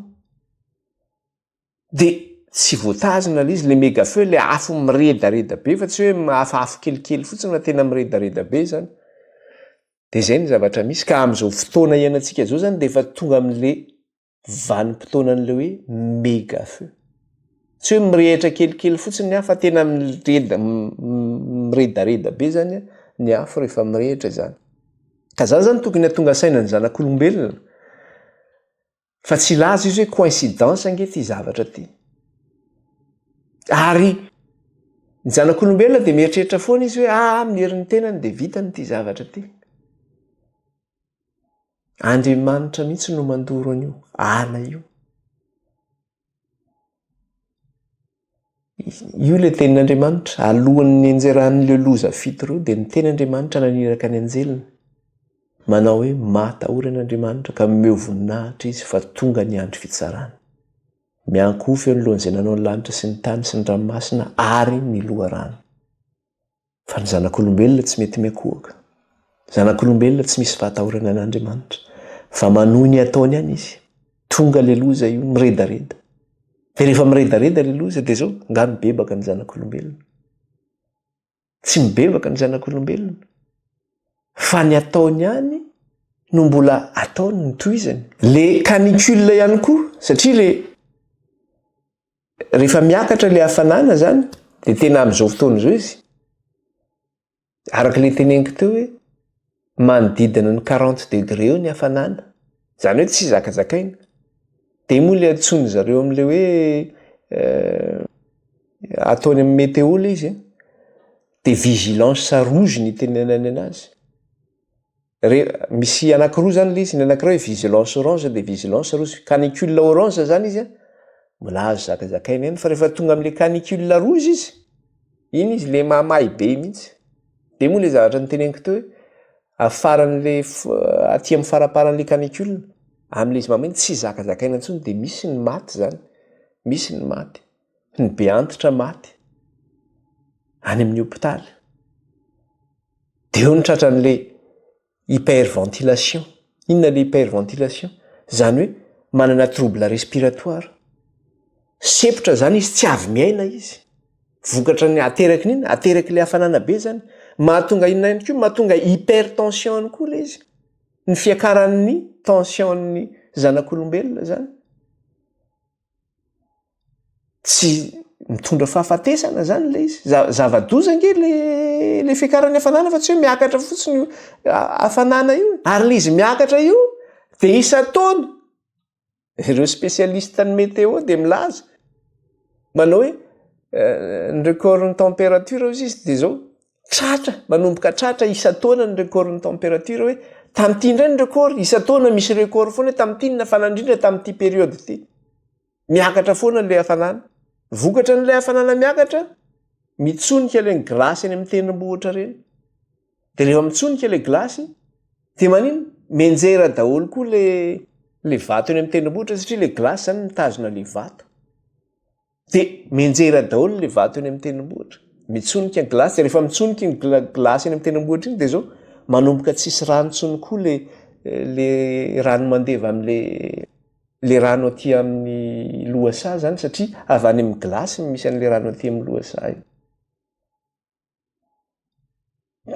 de tsy voatazona le izy le mega feu le afo miredareda be fa tsy hoe mahafahafo kelikely fotsiny fa tena miredareda be zany de zay ny zavatra misy ka am'izao fotoana iainantsika zao zany de efa tonga am'le vanim-potoana an'le hoe mega feu tsy hoe mirehitra kelikely fotsiny ny afo fa tena mireda miredareda be zany ny afo rehefa mirehitra zany ka zany zany tokony hatonga saina ny zanak'olombelona Fa tsy hilaza izy hoe coïncidence ange ity zavatra ity. Ary ny zanak'olombelona dia mieritreritra foana izy hoe ah amin'ny herin'ny tenany dia vitany ity zavatra ity. Andriamanitra mihitsy no mandoro an'io ala io. Io ilay tenin'Andriamanitra. Alohan'ny nianjeran'ireo loza fito ireo, dia ny tenin'Andriamanitra naniraka ny anjeliny. Manao hoe, Matahorana Andriamanitra, ka mihomehy voninahitra Izy, fa tonga ny andro fitsarany. Miankohoka eo anoloan'izay nanao ny lanitra sy ny tany sy ny ranomasina ary ny loharano. Fa ny zanak'olombelona tsy mety miankohoka. Zanak'olombelona tsy misy fahatahorana an'Andriamanitra. Fa manohy ny ataony ihany izy. Tonga ilay loza io, miredareda. Dia rehefa miredareda ilay loza, dia izao, angaha mibebaka ny zanak'olombelona? Tsy mibebaka ny zanak'olombelona. Fa ny ataony ihany no mbola ataony, notohizany. Ilay canicule ihany koa, satria ilay Rehefa miakatra ilay hafanana izany, dia tena amin'izao fotoana izao izy. Araka ilay teneniko teo hoe, manodidina ny 40 degré eo ny hafanana. Izany hoe tsy zakazakaina. Dia moa ilay antsoin'ny zareo amin'ilay hoe euh, ataony amin'ny météo ilay izy, eh? dia vigilance rouge ny tenenany anazy. re, misy anakiroa zany le izy, ny anakiray hoe vigilance orange de vigilance rouge, canicule orange zany izy a, mbola azo zakazakaina ihany fa rehefa tonga amle canicule rouge izy, iny izy le mahamay be iny mihintsy, de moa le zavatra noteneniko teo hoe, afaranle aty am faraparanle canicule, amle izy mahamay iny tsy zakazakaina intsony de misy ny maty zany, misy ny maty. ny be antitra maty any amin'ny hopitaly. Dia eo ny tratran'ilay hyperventilation. Inona ilay hyperventilation? Izany hoe manana trouble respiratoire. Sempotra izany izy, tsy avy miaina izy. Vokatra ny ateraky ny inona? Ateraky ilay hafanana be izany. Mahatonga inona ihany koa? Mahatonga hypertension ihany koa ilay izy. Ny fiakaran'ny tension'ny zanak'olombelona izany. tsy mitondra fahafatesana zany le izy zava-doza ange le le fiakaran'ny hafanana fa tsy hoe miakatra fotsiny io hafanana io ary le izy miakatra io de isan-taona ireo spécialiste ny météo de milaza manao hoe euh, ny record ny température hozy izy de zao tratra manomboka tratra isan-taona ny record ny temperature hoe tamin'ity indray ny record isan-taona misy record foana hoe tamin'ity ny hafanana indrindra tamin'ity periode ity miakatra foana ilay hafanana vokatra n'ilay hafanana miakatra mitsonika ilay ny glace eny amin'ny tendrombohitra ireny de rehefa mitsonika ilay glace de manino menjera daholo koa le le vato eny amin'ny tendrombohitra satria le glace zany mitazona le vato Dia mianjera daholo ilay vato eny amin'ny tendrombohitra. Mitsonika ny gilasy, dia rehefa mitsonika ny gilasy eny amin'ny tendrombohitra iny dia izao manomboka tsisy rano intsony koa ilay ilay rano mandeva amin'ilay ilay rano aty amin'ny lohasaha izany satria avy any amin'ny gilasy no misy an'ilay rano aty amin'ny lohasaha iny.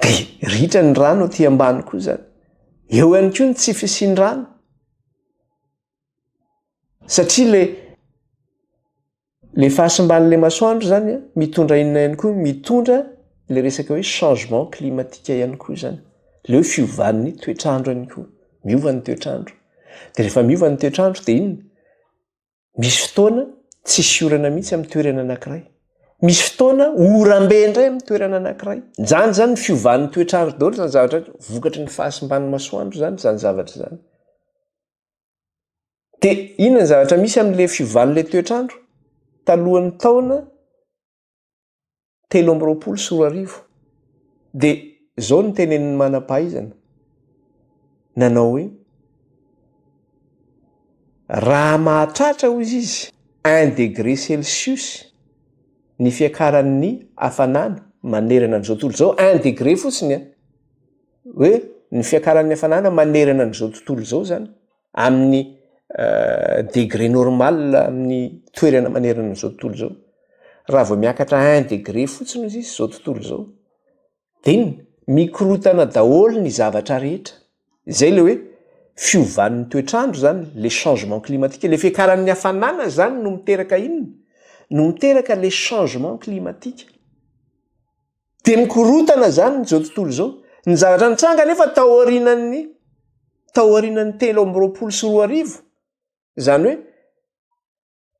dia ritra ny rano aty ambany koa zany eo ihany koa ny tsy fisian-drano satria le le fahasimban'le masoandro zany a mitondra inona ihany koa mitondra le resaka hoe changement climatique ihany koa zany le hoe fiovan'ny toetr'andro ihany koa miova ny toetr'andro de rehefa miova ny toetr'andro de inona Misy fotoana tsisy orana mihitsy amin'ny toerana anankiray. Misy fotoana orambe indray amin'ny toerana anankiray. Izany izany ny fiovan'ny toetr'andro daholo izany zavatra rehetra, vokatry ny fahasimban'ny masoandro izany izany zavatra izany. Dia inona ny zavatra misy amin'ilay fiovan'ilay toetr'andro talohan'ny taona telo amby roapolo sy roa arivo dia izao ny tenenin'ny manam-pahaizana nanao hoe raha mahatratra hoy izy un degré celsius ny fiakaran'ny hafanana manerana an'izao tontolo izao un degré fotsiny a hoe ny fiakaran'ny hafanana manerana an'izao tontolo izao zany amin'ny degré normal amin'ny toerana manerana an'izao tontolo izao. Raha vao miakatra un degré fotsiny hozy izy izao tontolo izao dia mikorotana daholo ny zavatra rehetra. Izay ilay hoe fiovan'ny toetr'andro izany, le changement climatique. Ilay fiakaran'ny hafanana izany no miteraka inona? No miteraka le changement climatique. Dia mikorontana izany izao tontolo izao. Ny zavatra nitranga anefa tao aorianan'ny tao aorianan'ny telo amby roapolo sy roa arivo, izany hoe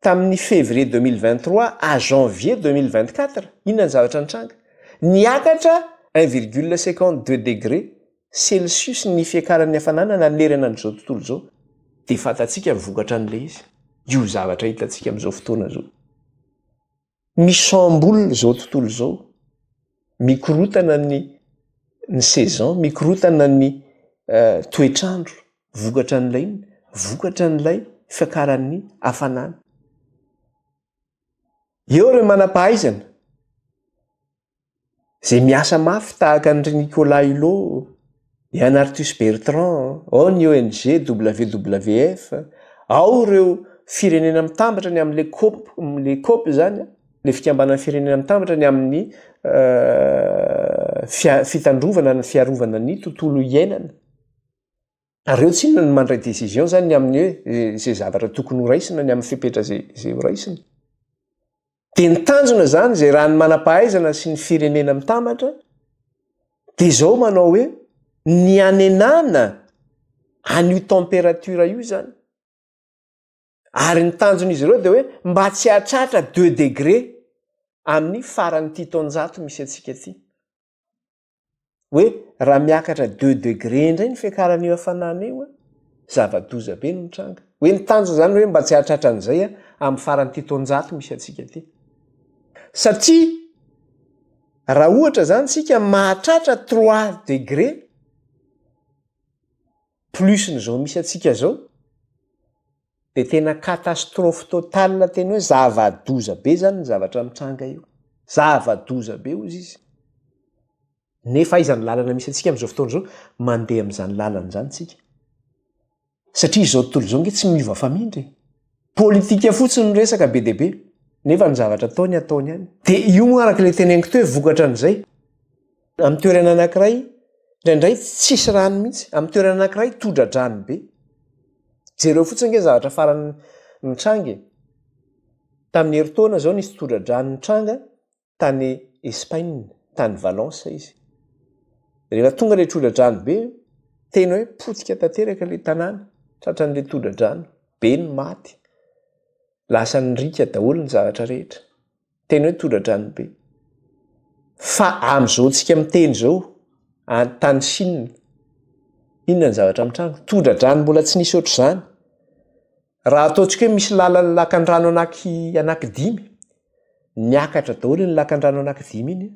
tamin'ny février 2023 à janvier 2024, inona ny zavatra nitranga? Niakatra un virgule cinquante deux degrés celsius ny fiakaran'ny hafanana nanerana an'izao tontolo izao. Dia fantatsika ny vokatra an'ilay izy, io zavatra hitantsika amin'izao fotoana izao. Misambola izao tontolo izao, mikorotana ny ny saison, mikorotana ny toetr'andro vokatra an'ilay inona? vokatra an'ilay fiakaran'ny hafanana. Eo ireo manam-pahaizana. Zay miasa mafy tahaka an-dry Nicolas Hulot, Yann Arthus Bertrand, ao ny ONG WWF, ao ireo Firenena Mitambatra ny amin'ilay Coop, ilay Coop izany an, ilay Fikambanan'ny Firenena Mitambatra ny amin'ny fitandrovana ny fiarovana ny tontolo iainana. Ary reo tsy inona no mandray décision zany ny amin'ny hoe ze zavatra tokony ho raisina ny amin'ny fepetra ze ze ho raisina. Dia ny tanjona zany zay raha ny manam-pahaizana sy ny firenena mitambatra dia zao manao hoe ny hanenana an'io température io zany ary ny tanjon'izy ireo dia hoe mba tsy hahatratra deux degré amin'ny faran'ity taonjato misy antsika ty. hoe raha miakatra deux degre indray ny fiakarana io hafanana io a zava-doza be no mitranga hoe ny tanjona zany hoe mba tsy hahatratra an'izay a amin'ny faran'ity taonjato misy antsika ity satria raha ohatra zany tsika mahatratra trois degre plus ny zao misy antsika zao De tena catastrophe totale tena hoe zava-doza be zany ny zavatra mitranga io. Zava-doza be hozy izy. Nefa aiza ny lalana misy antsika amin'izao fotoana izao? Mandeha amin'izany lalana izany isika. Satria izao tontolo izao ange tsy miova famindra e. Politika fotsiny no resaka be dia be, nefa ny zavatra ataony ataony ihany. Dia io moa araka ilay teneniko teo hoe vokatra an'izay. Amin'ny toerana anankiray, indraindray tsisy rano mihitsy. Amin'ny toerana anankiray, todra-drano be. Jereo fotsiny ange ny zavatra farany nitranga e! Tamin'ny herintaona izao nisy todra-drano nitranga tany Espaina, tany Valence izy. Rehefa tonga ilay todra-drano be, tena hoe potika tanteraka ilay tanàna, tratran'ilay todra-drano be ny maty. Lasa nirika daholo ny zavatra rehetra. Tena hoe todradrano be. Fa amin'izao antsika miteny izao, any tany Chine, inona ny zavatra mitranga? Todradrano mbola tsy nisy ohatr'izany. Raha ataontsika hoe misy lalan'ny lakandrano anaky anakidimy, niakatra daholo iny lakandrano anakidimy iny,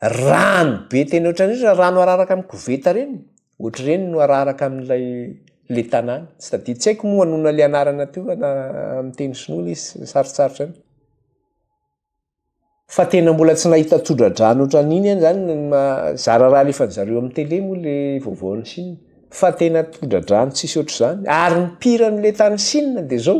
rano be tena ohatran'ireny rano araraka amin'ny koveta ireny, Ohatr'ireny no araraka amin'ilay le tanàna. Tsy tadidiko. Tsy haiko moa anona le anarana teo na amin'ny teny sinoa le izy sarotsarotra any. Fa tena mbola tsy nahita tsodradrano ohatran'iny any zany zara raha alefan'ny zareo amin'ny tele moa le vaovaon'i Chine. Fa tena tsodradrano tsisy ohatr'izany. Ary ny pire an'le tany Chine dia zao.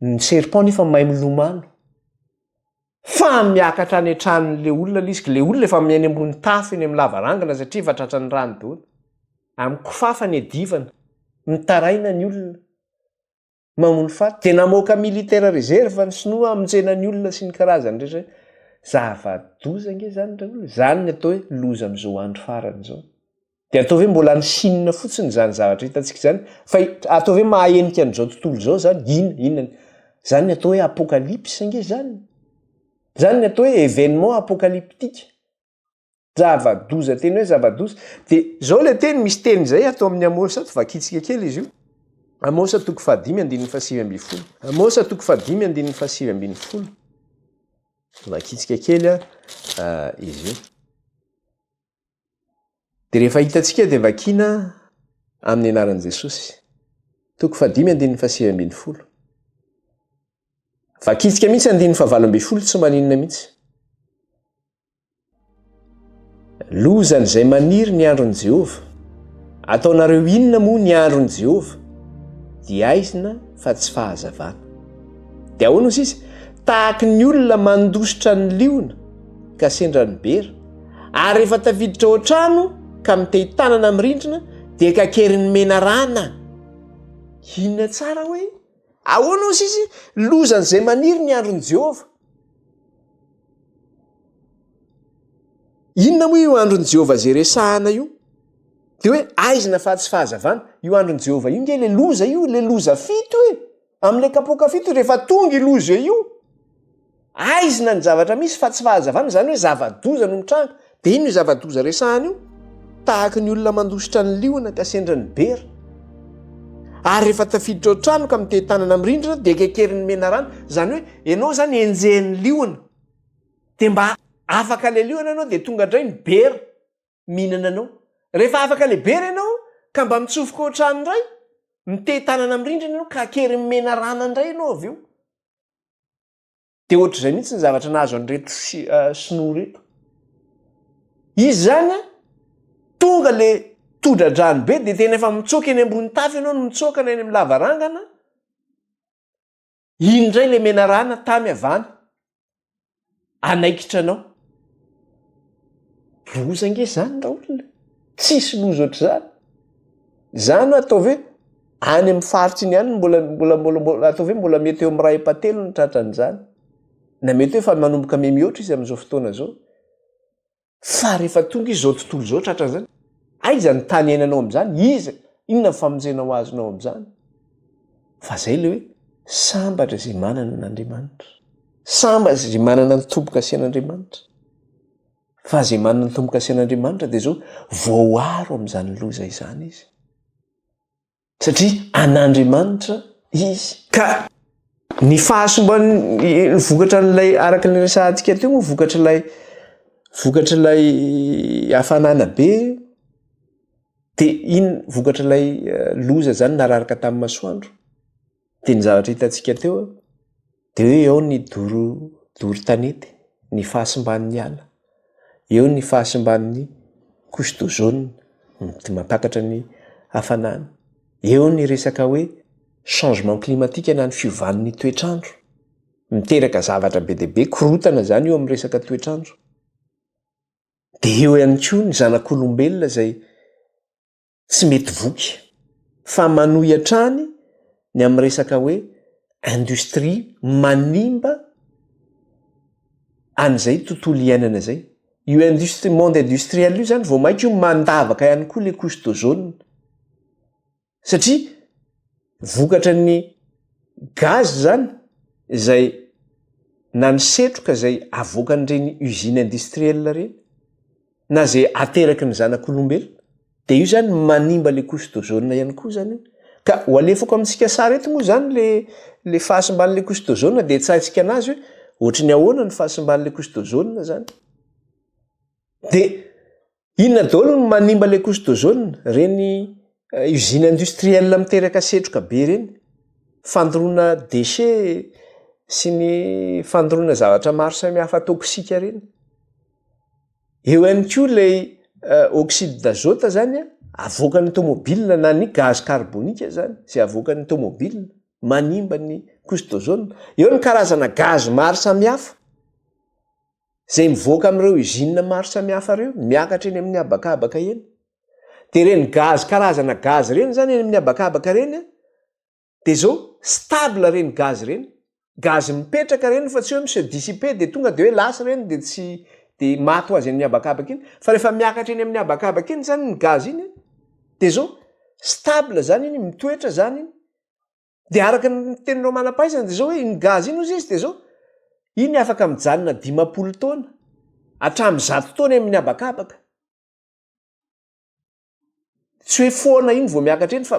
Ny serpent nefa mahay milomano. Fa miakatra any an-tranon'ilay olona ilay izy, ilay olona efa eny ambony tafo eny amin'ny lavarangana satria efa tratran'ny rano daholo. Amin'ny kifafa niadivana, mitaraina ny olona, mamono faty. Dia namoaka militaire réserve ny sinoa hamonjena ny olona sy ny karazany rehetra. Zava-doza ange izany ry olona. Izany no atao hoe loza amin'izao andro farany izao. Dia atao hoe mbola any Chine fotsiny izany zavatra hitantsika izany? Fa atao hoe mahahenika an'izao tontolo izao izany? Inona? Inona ny? Izany ny atao hoe apocalypse ange izany? Izany ny atao hoe événement apocalyptique? Zava-doza tena hoe zava-doza. Dia izao ilay teny, misy teny izay ato amin'ny Amosa ato, vakintsika kely izy io. Amosa toko fahadimy andininy fahasivy ambin'ny folo. Amosa toko fahadimy andininy fahasivy ambin'ny folo. Vakintsika kely ah, izy io. Dia rehefa hitantsika dia vakiana amin'ny anaran'i Jesosy. Toko fahadimy andininy fahasivy ambin'ny folo. Vakintsika mihitsy andininy fahavalo ambin'ny folo tsy maninona mihitsy. Lozan'izay maniry ny andron'i Jehovah. Ataonareo inona moa ny andron'i Jehovah? Dia aizina fa tsy fahazavana. Dia ahoana hoy sisa? Tahaky ny olona mandositra ny liona ka sendra ny bera, ary rehefa tafiditra ao an-trano ka mitehi-tanana amin'ny rindrina dia kakerin'ny menarana. Inona tsara hoe ahoana hoy sisa lozan'izay maniry ny andron'i Jehovah? Inona moa io andron'i Jehovah izay resahana io? Dia hoe aizina fa tsy fahazavana. Io andron'i Jehovah io ange ilay loza io, ilay loza fito e! Amle kapoka fito rehefa tonga i loza io aizina ny zavatra misy fa tsy fahazavana izany hoe zava-doza no mitranga dia inona io zava-doza resahana io tahaka ny olona mandositra ny liona ka sendra ny bera ary rehefa tafiditra ao trano ka mitety tanana amin'ny rindrina dia kekerin'ny menarana izany hoe ianao izany enjehin'ny liona dia mba afaka le liona ianao dia tonga indray ny bera mihinana anao. Rehefa afaka lehibe re ianao ka mba mitsofoka ohatrany indray, mitehin-tanana amin'ny rindrina ianao ka akeriny menarana indray ianao avy eo. Dia ohatr'izay mihitsy ny zavatra nahazo an'ireto sinoa ireto. Izy izany an, tonga ilay todradrano be dia tena efa mitsoaka eny ambony tafo ianao no mitsoaka na eny amin'ny lavarangana, Iny indray ilay menarana tamy avana anaikitra anao. Loza ange izany raolona. Tsisy loza ohatr'izany. Izany hoe ataovy hoe any amin'ny faritra iny ihany mbola mbola mbola mbola ataovy hoe mbola mety eo amin'ny iray epa-telo ny tratran'izany. Na mety hoe efa manomboka mihamihoatra izy amin'izao fotoana izao. Fa rehefa tonga izao tontolo izao tratra an'izany, aiza ny tany iainanao amin'izany? Iza, inona ny famonjena ho azonao amin'izany? Fa izay ilay hoe, sambatra izay manana an'Andriamanitra. Sambatra izay manana ny tombo-kasian'Andriamanitra. Fa izay manana ny tombo-kasian'Andriamanitra dia izao, voaaro amin'izany loza izany izy. Satria an'Andriamanitra izy. Ka ny fahasombany, ny vokatra an'ilay araka ny resahantsika teo moa vokatr'ilay vokatr'ilay hafanana be dia iny vokatr'ilay eh, loza zany nararaka tamin'ny masoandro. Dia ny zavatra hitantsika teo dia hoe eo ny doro doro tanety, ny fahasimban'ny ala, eo ny fahasimban'ny couche d'ozone, mety mampakatra ny hafanana, eo ny resaka hoe changement climatique na ny fiovan'ny toetr'andro, miteraka zavatra be dia be, korontana izany io amin'ny resaka toetr'andro. Dia eo ihany koa ny zanak'olombelona izay tsy mety voky fa manohy hatrany ny amin'ny resaka hoe industrie manimba an'izay tontolo iainana izay. Io industrie, monde industriel io izany vao mainka io mandavaka ihany koa ilay couche d'ozone satria vokatra ny gaz izany izay na ny setroka izay avoakan'ireny usine industriel ireny. na ze ateraky ny zanak'olombelona de io zany manimba le couche d'ozone ihany koa zany io ka ho alefako amintsika sary eto moa zany le le fahasimban'le couche d'ozone de tsahintsika anazy hoe ohatry ny ahoana ny fahasimban'le couche d'ozone zany de inona daholo ny manimba le couche d'ozone reny eh, usine industrielle miteraka setroka be reny fandoroana déchet sy ny fandoroana zavatra maro samy hafa toksika reny Eo ihany koa ilay oxyde d'azote zany avoakan'ny tomobilina na ny gaz carbonique zany izay avoakan'ny tomobilina manimba ny couche d'ozone. Eo ny karazana gaz maro samihafa izay mivoaka amin'ireo usines maro samihafa ireo miakatra eny amin'ny habakabaka eny. Dia ireny gaz karazana gaz ireny zany eny amin'ny habakabaka ireny de zao stable reny gaz reny, gaz mipetraka reny fa tsy hoe mi-se dissiper de tonga de hoe lasa reny de tsy de maty ho azy amin'ny habakabaka iny fa rehefa miakatra eny amin'ny habakabaka iny zany ny gaz iny de zao stable zany iny mitoetra zany iny de araka ny teninao manam-pahaizana de zao hoe iny gaz iny ozy izy de zao iny afaka mijanona dimampolo taona hatramin'ny zato taona eny amin'ny habakabaka. tsy hoe foana iny vao miakatra iny fa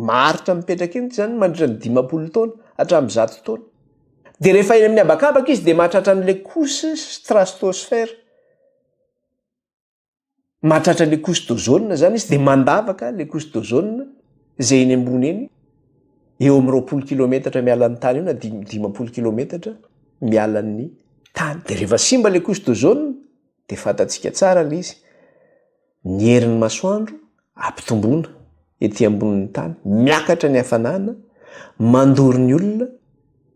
maharitra mipetraka iny zany mandritra ny dimampolo taona hatramin'ny zato taona de rehefa eny amin'ny habakabaka izy de mahatratra an'le couche stratosphère mahatratra le couche d'ozone zany izy de mandavaka le couche d'ozone zay eny ambony eny eo amin'ny roapolo kilometatra mialan'ny tany eo na dimy dimampolo kilometatra mialan'ny tany de rehefa simba le couche d'ozone dia fantatsika tsara ilay izy, ny herin'ny masoandro ampitomboina ety ambonin'ny tany, miakatra ny hafanana, mandoro ny olona,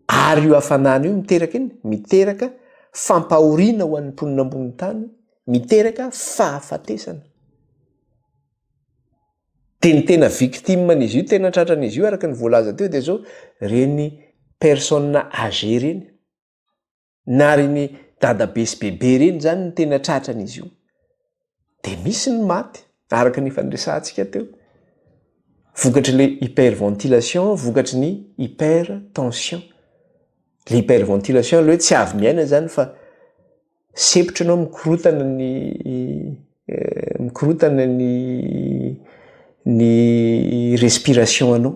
ary io hafanana io miteraka inona? Miteraka fampahoriana ho an'ny mponina ambonin'ny tany, miteraka fahafatesana. Dia ny tena victime an'izy io, tena tratran'izy io araka ny voalaza teo dia izao ireny personnes âgées ireny. na reny dadabe sy bebe reny zany ny tena tratran'izy io de misy ny maty araka ny efa niresahantsika teo vokatry le hyperventilation vokatry ny hypertension le hyperventilation aloha hoe tsy avy miaina zany fa sepitra anao mikorotana ny eh, mikorotana ny ny respiration anao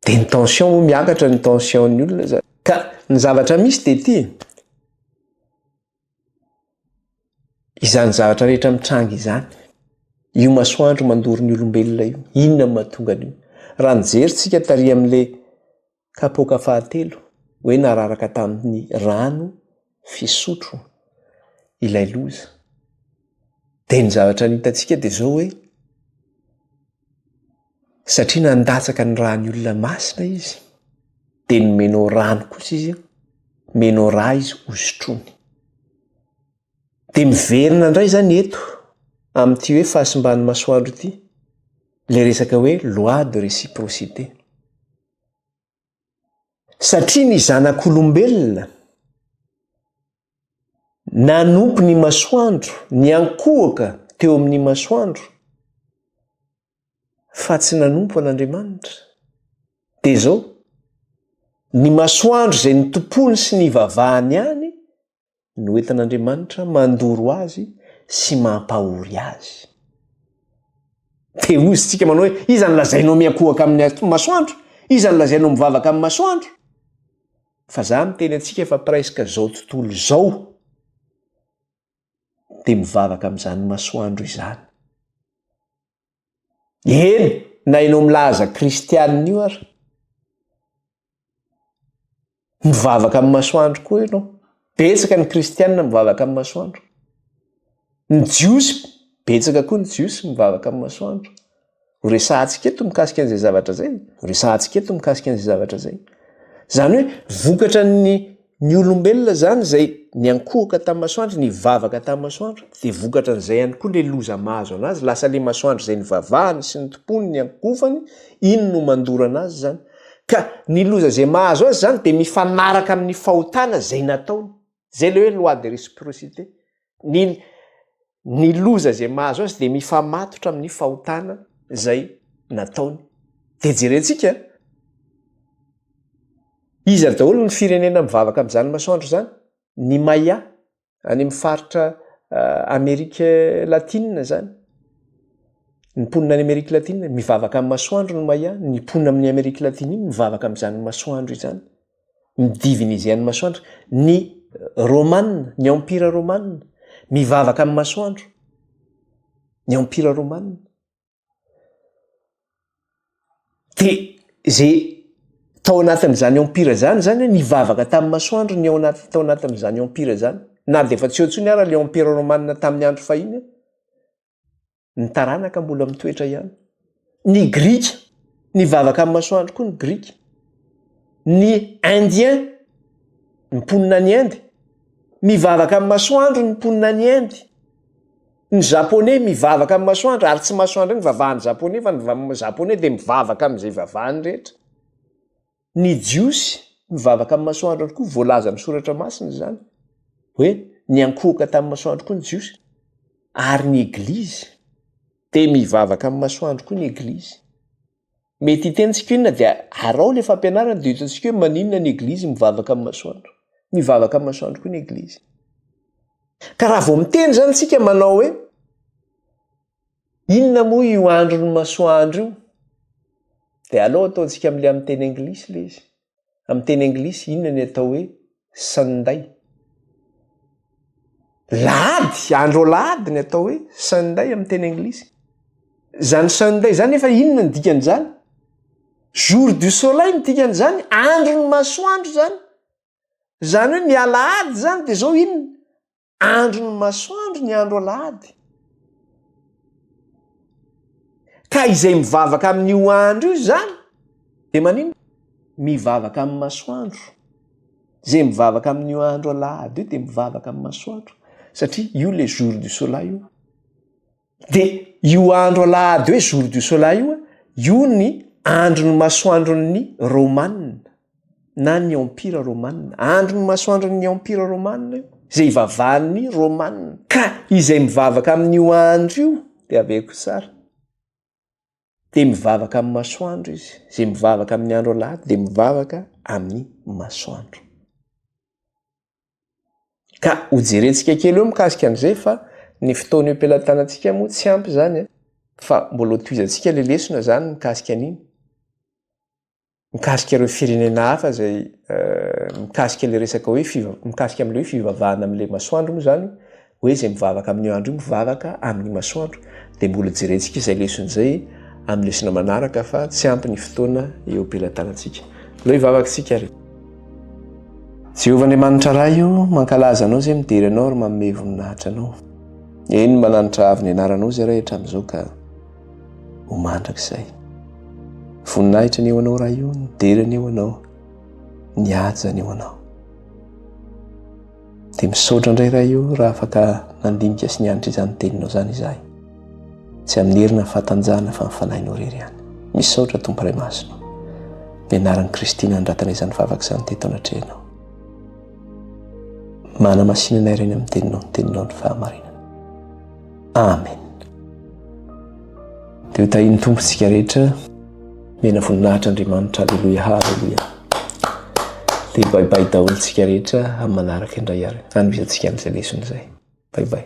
de ny tension moa miakatra ny tension'ny olona zany ka ny zavatra misy de ty izany zavatra rehetra mitranga izany io masoandro mandoro ny olombelona io inona mahatonga an'io raha nijery tsika tary amin'le Kapoaka fahatelo, hoe nararaka tamin'ny rano fisotro ilay loza. Dia ny zavatra ny hitantsika dia izao hoe, satria nandatsaka ny rà ny olona masina izy, dia nomenao rano kosa izy, omenao rà izy hosotroiny. Dia miverina indray izany eto amin'ity hoe fahasimban'ny masoandro ity, ilay resaka hoe loi de réciprocité. Satria ny zanak'olombelona nanompo ny masoandro, niankohoka teo amin'ny masoandro, fa tsy nanompo an'Andriamanitra. Dia izao, ny masoandro izay notompoiny sy nivavahany ihany no entin'Andriamanitra mandoro azy sy mampahory azy. Dia hoy isika manao hoe, iza no lazainao miankohoka amin'ny masoandro? Iza no lazainao mivavaka amin'ny masoandro? Fa za miteny antsika fa presque izao tontolo izao dia mivavaka amin'izany masoandro izany. Eny na ianao milaza kristianina io ary. Mivavaka amin'ny masoandro koa ianao. Betsaka ny kristianina mivavaka amin'ny masoandro. Ny jiosy, betsaka koa ny jiosy mivavaka amin'ny masoandro. Ho resahantsika eto mikasika an'izay zavatra izay. Ho resahantsika eto mikasika an'izay zavatra izay. Izany hoe vokatra ny Ny olombelona izany izay niankohoka tamin'ny masoandro, nivavaka tamin'ny masoandro, dia vokatra an'izay ihany koa ilay loza mahazo an'azy, lasa ilay masoandro izay nivavahany sy nitompoany, niankohofany, iny no mandoro an'azy izany. Ka ny loza izay mahazo azy izany dia mifanaraka amin'ny fahotana izay nataony. Izay ilay hoe loi de réciprocité. Ny ny loza izay mahazo azy dia mifamatotra amin'ny fahotana izay nataony. Dia jerentsika, iza daholo ny firenena mivavaka amin'izany masoandro izany? Ny Maya, any amin'ny faritra uh, Amerika Latina izany. Ny mponina any Amerika Latina, mivavaka amin'ny masoandro ny Maya, ny mponina amin'ny Amerika Latina mivavaka amin'izany masoandro izany. ny divinisian'ny masoandro, ny Romana, ny Empira Romana, mivavaka amin'ny masoandro, ny Empira Romana. Dia izay tao anatin'izany Empira izany zany hoe nivavaka tamin'ny masoandro ny ao anaty- tao anatin'izany Empira izany, na dia efa tsy eo intsony ara ilay Empira Romana tamin'ny andro fahiny. Ny taranaka mbola mitoetra ihany. Ny Grika, nivavaka amin'ny masoandro koa ny Grika. Ny Indiens, ny mponina any Inde, mivavaka amin'ny masoandro ny mponina any Inde. Ny Japoney mivavaka amin'ny masoandro, ary tsy masoandro ihany vavahan'ny Japoney fa ny Japoney dia mivavaka amin'izay vavahany rehetra. Ny Jiosy mivavaka amin'ny masoandro ihany koa, voalaza amin'ny Soratra Masina izany hoe niankohoka tamin'ny masoandro koa ny Jiosy, ary ny Eglizy dia mivavaka amin'ny masoandro koa ny Eglizy. Mety hitenintsika hoe inona dia araho ilay fampianarana dia ho hitantsika hoe maninona ny Eglizy mivavaka amin'ny masoandro. Mivavaka amin'ny masoandro koa ny Eglizy. Ka raha vao miteny izany isika manao hoe, Inona moa io andron'ny masoandro io? Dia aleo ataontsika amin'ilay amin'ny teny anglisy ilay izy. Amin'ny teny anglisy inona ny atao hoe Sunday? Lahady, andro alahady ny atao hoe Sunday amin'ny teny anglisy. Izany Sunday izany efa inona ny dikan'izany? Jour du soleil ny dikan'izany, andron'ny masoandro izany. Izany hoe ny alahady izany dia izao inona? Andro ny masoandro ny andro alahady. Ka izay mivavaka amin'io andro io izany dia maninona? Mivavaka amin'ny masoandro. Izay mivavaka amin'io andro alahady io dia mivavaka amin'ny masoandro satria io ilay jour du soleil io. De io andro alahady hoe jour du soleil io a, io ny andron'ny masoandron'ny Romana na ny Empira Romana, andron'ny masoandron'ny Empira Romana io, zay ivavahan'ny Romana, ka izay mivavaka amin'io andro io de avy eo koa sara. dia mivavaka amin'ny masoandro izy. Izay mivavaka amin'ny andro alahady dia mivavaka amin'ny masoandro. Ka hojerentsika kely eo mikasika an'izay fa ny fotoana eo am-pelatanantsika moa tsy ampy izany eh? fa mbola ho tohizantsika ilay lesona izany mikasika an'iny. mikasika ireo firenena hafa izay mikasika ilay resaka hoe fiva- mikasika amin'ilay hoe fivavahana amin'ilay masoandro moa izany hoe izay mivavaka amin'io andro io mivavaka amin'ny masoandro dia mbola jerentsika izay lesona izay amin'ny lesona manaraka fa tsy ampy ny fotoana eo am-pelatanantsika aleo hivavaka isika ary Jehovah Andriamanitra Ray io mankalaza anao izay midera anao ary manome voninahitra anao eny mananitra avo ny anaranao izay Ray hatramin'izao ka ho mandrakizay. Voninahitra ny eo anao raha io, ny dera ny eo anao, ny haja ny eo anao. Dia misaotra indray raha io raha afaka nandinika sy nianatra izany teninao izany izahay. Tsy amin'ny herina ny fatanjahana fa ny fanahinao rery ihany. Misaotra Tompo Ray Masina. Ny anaran'i Kristy nandratana izany vavaka izany teto anatrehanao. Mana masinanay reny amin'ny teninao, ny teninao ny fahamarinana. Amen. Dia ho tahin'ny Tompo isika rehetra. Mena voninahitra Andriamanitra. Aleloia. Aleloia. Dia bye bye daholo isika rehetra amin'ny manaraka indray ary. Hanomezantsika an'izay lesona izay. Bye bye.